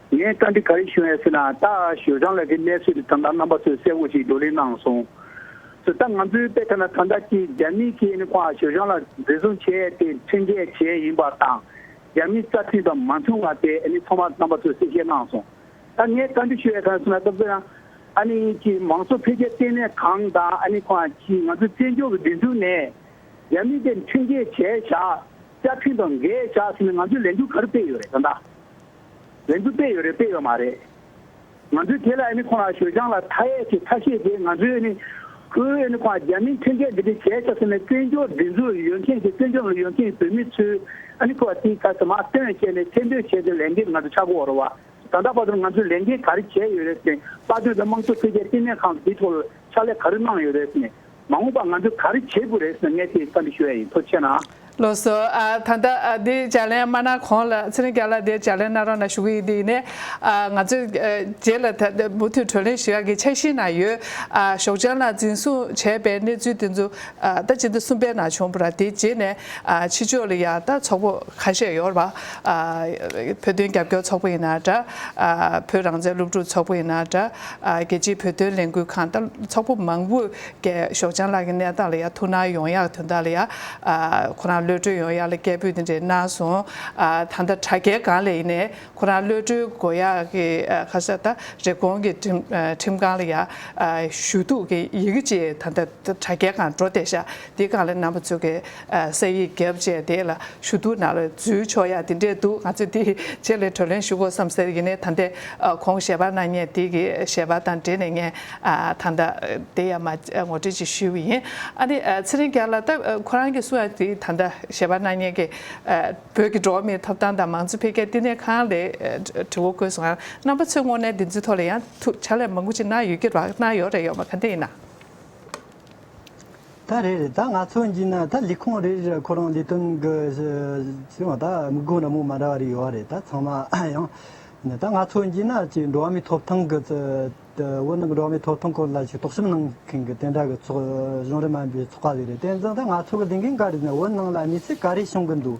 ངས་བཀའ་འདྲི་ག་རེ་ཞུ་ཡ་ཟེར་ན་ད་ཞོལ་ལྗང་ལགས་ཀྱི་གནས་ཚུལ་དེ་ད་ལྟ་རྣམ་པ་ཚོས་གསལ་བོ་ཞིག་བགྲོ་གླེང་གནང་སོང། ཟེར་ད་ང་ཚོའི་དཔེ་ལྟར་ན་ད་ལྟ་སྤྱིར་རྒྱ་མིའི་ཁེ་ཨན་ཁོ་ཨ་ཞོལ་ལྗང་ལགས་འཛིན་བཟུང་བྱས་ཏེ་ཁྲིམས་འགལ་བྱས་ཡིན་པ་དང་རྒྱ་མིའི་རྩ་ཁྲིམས་དང་མ་མཐུན་བ་དེ་ཨ་ནི་ཚང་མ་རྣམ་པ་ཚོས་གསལ་བཤད་གནང་སོང། ད་ངས་བཀའ་འདྲི་ཞུ་ཡ་ག་རེ་ཟེར་ན་སྐབས་དེར་ཨ་ནི་ཀྱི་མང་གཙོ་འཕེལ་རྒྱས་ལྟེ་གནས་ཁང་དང་ཨ་ནི་ཁོ་ཨ་ཀྱིས་ང་ཚོའི་བཙན་བྱོལ་གྱི་སྒྲིག་འཛུགས་ནས་རྒྱ་མི་དེ་ཁྲིམས་འགལ་བྱས་བཞག་རྩ་ཁྲིམས་དང་འགལ་བཞག་ཟེར་ནས་ང་ཚོའི་ལས་འགུལ་ག་རེ་སྤེལ་ཡོད་རེད་ད་ལྟ། རེད་འདུག་སྤེལ་ཡོད་རེད་སྤེལ་ཡོད་མ་རེད། ང་ཚོས་དེ་ལ་ཨེ་ནི་ཁོང་རང་ཞོལ་སྦྱང་ལ་མཐའ་ཡས་ཀྱི་ཚ་ཤེས་དེ་ང་ཚོའི་ཨེ་ནི། ཁོའི་ཨེ་ནི་ཁོང་རང་རྒྱ་མིའི་འཐེན་འཁྱེར་འདི་འདྲའི་གྱད་ཆགས་ཟེར་ནས་བཙན་བྱོལ་སྒྲིག་འཛུགས་ཡོད་མཁན་གྱི་བཙན་བྱོལ་ནང་ཡོད་མཁན་བོད་མི་ཚོས་ཨེ་ནི་ཁོ་བ་དེའི་ཁ་ཟ་མ་སྟོན་བྱས་ནས་ཐེར་འདོན་བྱས་ཏེ་ལས་འགན་ང་ཚོ་ཆག་སྒོ་བོར་བ་དང་ད་བར་དུ་ང་ཚོས་ལས་འགན་ག་རེ་བྱས་ཡོད་རེད་ཟེར་དཔའ་སྟོན་དང་དམངས་གཙོ་འཕེལ་རྒྱས་བསྟི་གནས་ཁང་གི་དེའི་ཐོག་ལ་ཕྱག་ལས་ག་རེ་གནང་ཡོད་རེད་ཟེར་ནས་མ་འོངས་པ་ང་ཚོས་ག་རེ་བྱེད་དགོས་རེད་ཟེར་ན་ངས་དེ་བཀའ་འདྲི་ཞུ་ཡ་ཡིན་ཐུགས་ཆེ་གནང། བློ་གསོ། ད་ལྟ་འདི་ལྗགས་ལན་སྨྲ་ན་གོང་ལ་ཚེ་རིང་རྒྱ་ལགས་འདིར་ལྗགས་ལན་སྣ་རོགས་ན་ཞུ་གི་ཡིན་འདི་ཡིན་ནས། ང་ཚོས་རྗེས་ལ་ད་མུ་མཐུད་གྲོས་གླེང་ཞུ་ཡ་གི་འཆར་གཞི་ན་ཡོད། ཞོགས་ལྗང་ལགས་འཛིན་བཟུང་བྱས་པའི་གནས་ཚུལ་དེ་ཚོ་ཟླ་གཅིག་ཟླ་གསུམ་པའི་ནང་བྱུང་པ་ར་དེའི་རྗེས་ནས་ཕྱི་ཕྱོགས་ལ་ཡང་ད་ཚོགས་པོ་ཁ་ཤས་ཡོད་ར། བོད་དོན་རྒྱབ་སྐྱོར་ཚོགས་པོ་ཡིན་ན་འདྲ། བོད་རང་བཙན་སློབ་ཕྲུག་ཚོགས་པོ་ཡིན་ན་འདྲ། རྒྱལ་སྤྱིའི་བོད་དོན་ལས་འགུལ་ཁང་དང་ཚོགས་པ་མང་པོས་རྒྱལ་ཞོགས་ལྕང་ལགས་ཀྱི་གནས་སྟངས་ལ་ཡང་ཐུགས་སྣང་ཡོང་ཡག་དོན་དག་ལ་ཡང་ཁོ་རང་གློད་གྲོལ་ཡོང་ཡག་ལ་སྐད་འབོད་འདི་འདྲའི་གནང་སོང། ད་ལྟ་དྲ་རྒྱའི་སྒང་ལས་ཡིན་ནས་ཁོ་རང་གློད་གྲོལ་དགོས་ཡག་གི་ཁ་ས་ད་རེབ་གོང་གི་ཁྲིམས་ཁང་ལ་ཡང་ཞུ་གཏུག་གི་ཡི་གེ་ཅིག་ད་ལྟ་དྲ་རྒྱའི་སྒང་འགྲོ་བསྡད་ཤག་འདི་གང་ལ་རྣམ་པ་ཚུགས་ཀའི་གསེར་ཡིག་རྒྱབ་བཅས་དེ་ལ་ཞུ་གཏུག་ནང་ལ་འཛུལ་ཆོག་ཡ་དེ་འདྲས་འདུག་ང་ཚོས་དེའི་རྗེས་ལས་གྲོས་ལན་ཞུ་དགོས་བསམ་ཟེར་ཡིན་ནའི་ད་ལྟའི་གོང་ཞལ་པར་ནང་ཉེ་དེ་གི་ཞལ་པར་དང་འབྲེལ་ནས་ངས་ད་ལྟ་དེ་ཡར་མར་ངོ་སྤྲོད་ཅིག་ཞུས་པ་ཡིན། ཨ་ནི་ཚེ་རིང་རྒྱ་ལགས་ད་ཁོ་རང་གིས་སུའང་དེ་ད་ལྟ་ཞལ་པར་ནང་ཉེ་གི་བོད་ཀྱི་འགྲོ་བ་མིའི་ཐོབ་ཐང་དང་མང་གཙོ་འཕེལ་རྒྱས་བསྟི་གནས་ཁང་ལས་དྲི་བ་བཀོད་སོང་རྣམ་པ་ཚོས་དངོས་གནས་འདི་ཚོའི་ཐོག་ལ་ཡང་ཐུགས་ཕྱག་ལས་མང་པོ་ཅིག་གནང་ཡོད་ཀྱི་ར་གནང་ཡོད་རེད་ཡོད་མ་ག་དེ་ཡིན་ན། ད་རེ་རེ་ད་ང་ཚོ་འཇིག་ན་ད་ལས་ཁུངས་རེ་རེ་ལ་ཁོ་རང་ལས་དོན་གི་ཟེར་བ་ད་མི་དགོས་ར་མོ་མ་འདྲ་བ་རེ་ཡོད་བ་རེད་ད་ཚང་མ་ཡང་ད་ང་ཚོ་འཇིག་ན་ཅིག་འགྲོ་བ་མིའི་ཐོབ་ཐང་གི་དབུ་རྣམ་འགྲོ་བ་མིའི་ཐོབ་ཐང་སྐོར་ལ་ཅིག་དོགས་ཞིབ་གནང་མཁན་གི་དེ་འདྲ་གི་ཚོགས་གཞུང་རེ་མ་འབོད་ཚོགས་པ་རེ་རེད་དེ་འཛིན་ད་ང་ཚོ་གི་ལས་འགན་ག་རེ་ཟིན་ན་འུ་ནང་ལ་མི་ཚེ་ག་རེ་བྱུང་གི་འདུག་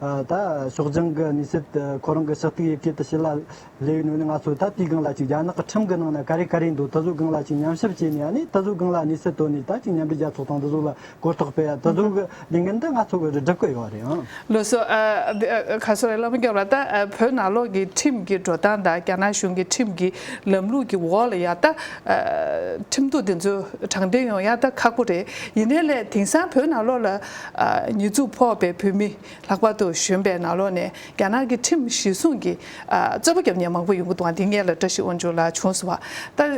ད་ཕྱོགས་རྒྱང་གི་ནུས་སྲིད་དེ་ཁོ་རང་གི་ཕྱག་ཐིག་ཡི་གེ་དུ་བྱས་ལ། ལེའུའི་ནང་ནས་ང་ཚོ་ད་དུས་སྒང་ལ་ཅིག་རྒྱ་ནག་གི་ཁྲིམས་ཀྱི་ནང་ནས་ག་རེ་ག་རེ་འདུག་ད་གཟོད་སྒང་ལ་ཅིག་ཉམས་ཞིབ་བྱས་ནས་ཡང་ནི་ད་གཟོད་སྒང་ལ་ནུས་སྲིད་དོར་ནས་ད་ཅིག་མཉམ་འབྲེལ་རྒྱལ་ཚོགས་དང་ད་གཟོད་ལ་གོ་རྟོགས་སྤེལ་ཡ་ད་གཟོད་གི་ལས་འགན་འདི་ང་ཚོ་གི་རུ་སྒྲུབ་ཀྱི་ཡོད་རེད་ཨང། ལོ་སོ། ག་སོ་རེད་ལབ་མི་འགྱོ་ར་ད་བོད་ནང་ལོག་གི་ཁྲིམས་ཀྱི་འགྲོ་སྟངས་དང་རྒྱ་ནག་གཞུང་གི་ཁྲིམས་ཀྱི་ལམ་ལུགས་ཀྱི་འོག་ལ་ཡ་ད་ཁྲིམས་གཏུག་དེ་ཚོ་དྲང་བདེན་ཡོང་ཡ་ད་ཁག་པོ་རེད་ཡིན་ནའི་ལས་དེང་སང་བོད་ནང་ལོག་ལ། ཉེས་འཛུགས་ཕོག་པའི་བོད་མི་ལྷག་པར་དུ་གཞོན་པའི་ནག་ལོག་ནས་རྒྱ་ནག་གི་ཁྲིམས་གཞི་བསྲུངས་ཀྱིས་རྩོད་པ་རྒྱབ་ཉེན་མང་པོ་ཡོང་གི་འདུག་འདི་ངས་ལ་བཀྲ་ཤིས་དབང་ཕྱུག་ལགས་བྱུང་སོང་བ་ལྟར་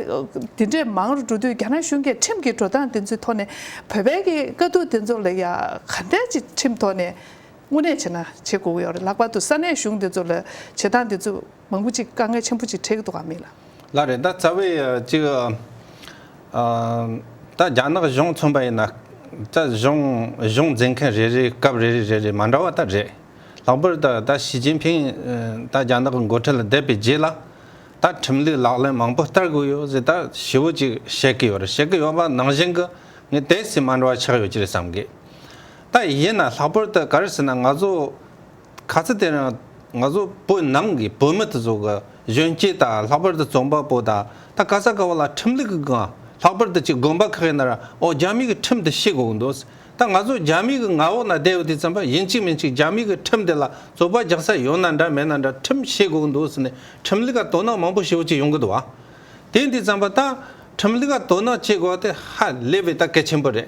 དེ་འདྲས་མང་རུ་འགྲོ་དུས་རྒྱ་ནག་གཞུང་གིས་ཁྲིམས་ཀྱི་འགྲོ་སྟངས་དེ་ཚོའི་ཐོག་ནས་བོད་པའི་གི་དཀའ་སྡུག་དེ་ཚོ་ལ་ཡང་ག་འདྲས་ཀྱི་ཁྲིམས་ཐོག་ནས་དངོས་གནས་བྱེད་ན་བྱེད་དགོས་ཀྱི་ཡོད་རེད་ལྷག་པར་དུ་ས་གནས་གཞུང་དེ་ཚོ་ལ་བྱེད་སྟངས་དེ་ཚོ། མང་པོ་ཅིག་དཀའ་ངལ་ཆེན་པོ་ཅིག་འཕྲད་ཀྱི་འདུག་ག་མེད་ལ། ལ་རེད་ད་རྩ་བའི་ཅིག་ད་རྒྱ་ནག་གཞུང་མཚོན་པ་ཡིན་ན་རྩ་གཞུང་གཞུང་འཛིན་མཁན་རེ་རེའི་སྐབས་རེ་རེ་རེ་རེ་མ་འདྲ་བ་ད་རེད། ལྷག་པར་ད་ད་ཞི་ཅིན་ཕིན་ད་རྒྱ་ནག་གི་མགོ་ཁྲིད་ལ་བསྡད་པའི་རྗེས་ལ་ད་ཁྲིམས་ལུགས་ལག་ལེན་མང་པོ་བསྟར་དགོས་ཡོད་ཟེར་ད་ཞི་བོ་ཅིག་བཤད་ཀྱི་ཡོད་རེད་བཤད་ཀྱི་ཡོད་པ་ནང་བཞིན་གྱི་ངས་དེ་སྲིད་མ་འདྲ་བ་ཆགས་ཡོད་ཀྱི་རེད་བསམ་གི། ད་ཡིན་ན་ལྷག་པར་ད་ག་རེ་ཟེར་ན་ང་ཚོ་ག་ཚོད་དེ་རིང་ང་ཚོ་བོད་ནང་གི་བོད་མི་དེ་ཚོ་གི་གཞོན་སྐྱེས་དང་ལྷག་པར་དུ་རྩོམ་པ་པོ་དང་ད་ག་ས་ག་བ་ལ་ཁྲིམས་ལུགས་ཀྱི་སྒང་ལྷག་པར་དུ་གཅིག་དགོན་པ་ཁག་གི་ནང་འོག་རྒྱ་མིའི་གི་ཁྲིམས་དེ་ཤེས་དགོས་འདུག་ད་ང་ཚོ་རྒྱ་མིའི་གི་མངའ་འོག་ན་བསྡད་ཡོད་དུས་རྩོམ་པ་ཡིན་གཅིག་མིན་གཅིག་རྒྱ་མིའི་གི་ཁྲིམས་དེ་ལ་རྩོད་པ་རྒྱག་ས་ཡོད་ན་འདྲ་མེད་ན་འདྲ་ཁྲིམས་ཤེས་དགོས་འདུག་ཟེར་ནས་ཁྲིམས་ལུགས་ཀ་དོ་སྣང་མང་པོ་ཞེ་བོ་ཅིག་ཡོང་གི་འདུག་བ་དེ་འདི་རྩོམ་པ་ད་ཁྲིམས་ལུགས་ཀ་དོ་སྣང་བྱེད་དགོས་ད་ཧ་ལས་པའི་ད་གལ་ཆེན་པོ་རེད།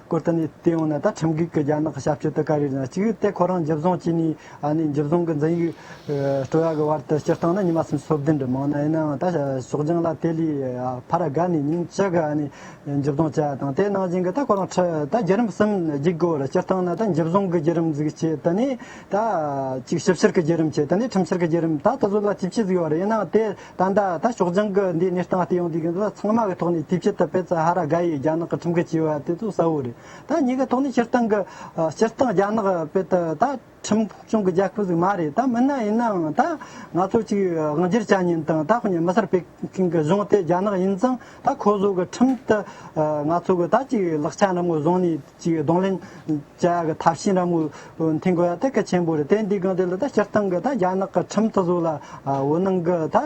བཀོད་ཐུབ་ནས་དེ་ཡང་ན་ད་ཁྲིམས་འགལ་གྱི་རྒྱ་ནག་གི་ཞབས་ཞུ་དེ་ག་རེ་ཡིན་ཅིག་གིས་དེ་ཁོ་རང་འཇིབ་བཟང་བྱས་ནས་འཇིབ་བཟང་གི་འཛིན་ཡིག་སྤྲོ་ཡག་གི་བར་དུ་སྤྱིར་བཏང་ན་ཉི་མ་སུམ་སོ་བདུན་འགྲིམ་མང་ན་ཡིན་ནའང་ད་ཕྱོགས་རྒྱང་ལ་དེ་ལས་ཕར་དགའ་ནས་ཉིན་གཅིག་གི་འཇིབ་བཟང་བྱས་པ་དང་དེ་ནང་བཞིན་གྱི་ད་ཁོ་རང་ད་བརྒྱུད་རིམ་གསུམ་བརྒྱུད་དགོས་པར་སྤྱིར་བཏང་ན་ད་འཇིབ་བཟང་གི་བརྒྱུད་རིམ་ཟིག་བྱས་ད་ནས་ད་ཅིག་ཞིབ་བཤེར་གྱི་བརྒྱུད་རིམ་བྱས་ད་ནས་ཁྲིམས་བཤེར་གྱི་བརྒྱུད་རིམ་ད་ད་གཟོད་ལ་བཅུ་བཞི་ཟིག་ཡོད་རེད་ཡིན་ནའང་དེ་ད་ལྟ་ད་ཕྱོགས་སྦྱང་གི་འདི་གནས་སྟངས་ལྟས་ཡོང་དུས་འདི་ཚང་མ་གི་ཐོག་ནས་དུས་ཕྱིད་དུ་པེ་ཙ་ཧ་ར་གྷ་ཡིས་རྒྱ་ནག་གི་ཁྲིམས་འགལ་བྱས་པ་དེ་ཚོ་གསལ་བོ་རེད་ད་ཉིད་ཀྱི་ཐོག་ནས་སྤྱིར་བཏང་གི་སྤྱིར་བཏང་རྒྱ་ནག་པེ་ཏི་ད་ཁྲིམས་སྐྱོང་གི་རྒྱལ་ཁབ་ཟིག་མ་རེད་ད་མིན་ན་ཡིན་ནའང་ད་ང་ཚོ་ཅིག་དབང་སྒྱུར་བྱ་ཉིན་དང་ད་ཁོ་ནས་མི་སེར་པེ་ཀིན་གི་གཞུང་དེ་རྒྱ་ནག་ཡིན་ཙང་ད་ཁོ་ཟོ་གི་ཁྲིམས་ལྟར་ང་ཚོ་གི་ད་ཅིག་ལག་ཆ་འགྲམ་ངོ་བཟུང་ནས་ཅིག་གདོང་ལེན། བཅའ་ཡག་ཐབས་ཤེས་རང་མོས། མཐིང་གོ་ཡག་ཐད་ཀ་ཆེན་པོ་རེད་དེ་འདི་གང་དེ་ལ་ད་སྤྱིར་བཏང་གི་ད་རྒྱ་ནག་གི་ཁྲིམས་ད་གཟུགས་ལ་འོད་སྣང་གི་ད་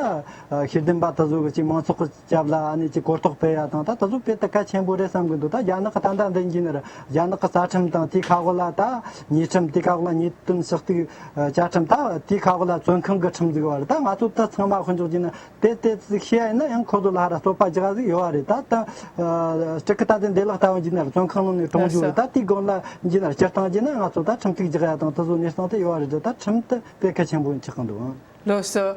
ཤེས་ལྡན་པ་ད་གཟུགས་གི་ཅིག་མང་ཚོགས་ཀྱི་སྐྱབས་ལ་ཨ་ནི་ཅིག་གོ་རྟོགས་སྤེལ་ཡག་དང་ད་ད་གཟུགས་སྤེལ་ཐད་ཀ་ཆེན་པོ་རེད་བསམ་གི་འདུག་ད་རྒྱ་ནག་གི་ད་ད་འདི་འགྱིས་ནི་རྒྱ་ནག་གི་རྩ་ཁྲིམས་དང་དེའི་ཁག་དབུ་ལ་ད་ཉེས་ཁྲིམས་དེའི་ཁག་དབུ་ལ་ཉེས་དོན་ཞག་གཅིག་བཅའ་ཁྲིམས་ད་དེའི་ཁག་དབུ་ལ་བཙོན་ཁང་གི་ཁྲིམས་འཛུགས་པ་རེད་ད་ང་ཚོ་ད་ཚང་མ་ཁོ་འཇོག་གྱིས་ནི་དེ་དེ་ཚིག་ཤེས་ཡ་ཡིན་ན་ཡང་ཁོ་ཚོ་ལ་ཧ་ར་སོ་པ་ཇི་ག་ཟིག་ཡོད་བ་རེད་ད་ད། སྤྲི་ཁི་ད་དེ་འདེ་ལག་ལྟ་བ་འཇིག་ནར་བཙོན་ཁང་ནང་ནས་གྲོངས་འཇུག་རེད་ད་དེའི་སྒང་ལ་འཇིག་ནར་སྤྱིར་བཏང་བྱས་ན་ང་ཚོ་ད་ཁྲིམས་གཅིག་ཇི་ག་ཡ་དང་དེ་ཚོ་གནས་སྟངས་དེ་ཡོད་བ་རེད་ད་ད་ཁྲིམས་དེ་དཔེ་གལ་ཆེན་པོ་ཆགས་ཀྱི་འདུག་ཨང། བློ་གསོ།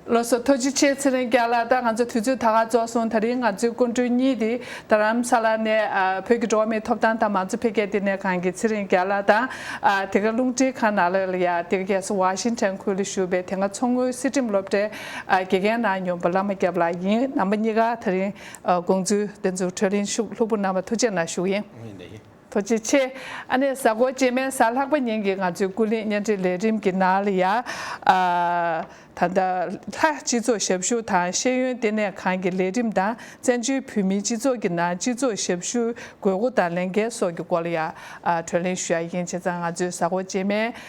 བློ་གསོ་ཐོ་ཅི་ཆེ་ཚེ་རིང་སྐྱག་ལ་ད་ང་ཚོ་དུས་ཚོད་ད་ག་རྫོགས་སོང་ད་རིང་ང་ཚོའི་སྐུ་མགྲོན་གཉིས་དེ་རྡ་རམ་ས་ལ་ནས་བོད་ཀྱི་འགྲོ་བ་མིའི་ཐོབ་ཐང་དང་མང་གཙོ་འཕེལ་རྒྱས་ལྟེ་གནས་ཁང་གི་ཚེ་རིང་སྐྱག་ལ་ད་དེ་ག་རླུང་འཕྲིན་ཁང་ནག་ལས་ལ་ཡ་དེ་ག་རྒྱལ་ས་བྷ་ཤིང་ཏན་ཁུལ་ལ་བཞུགས་པའི་དེ་ག་མཚོ་སྔོན་སྲིད་ཁྲིམས་སློབ་གྲྭའི་དགེ་རྒན་ནང་སྙོམས་པ་བླ་མ་སྐྱབས་ལགས་ཡིན་རྣམ་པ་གཉིས་ཀ་ད་རིང་དགོངས་ཚུལ་བདེན་རྫུན་འཕྲོད་གླིང་ཤུགས་ལྷུག་པོ་རྣམ་པ་ཐུགས་ཆེ་ན་ཞུ་ཡིན། ཐུགས་རྗེ་ཆེ། ཨ་ནེ་གཟའ་འཁོར་རྗེས་མའི་གཟའ་ལྷག་པ་ཉིན་གྱི་ང་ཚོའི་ཀུན་གླེང་བརྙན་འཕྲིན་ལས་རིམ་གྱི་ནང་ལ་ཡ། ད་ལྟ། ལྷ། སྤྱི་ཚོགས་ཞབས་ཞུ་དང་ཤེས་ཡོན་ལྟེ་གནས་ཁང་གི་ལས་རིམ་དང་བཙན་བྱོལ་བོད་མིའི་སྤྱི་ཚོགས་ཀྱི་ནང་སྤྱི་ཚོགས་ཞབས་ཞུའི་དགོས་མཁོ་དང་ལས་འགན་སོགས་ཀྱི་སྐོར་ལ་ཡ། བགྲོ་གླེང་ཞུ་ཡ་ཡིན་བྱས་ཙང་ང་ཚོའི་གཟའ་འཁོར་རྗེས་མའི།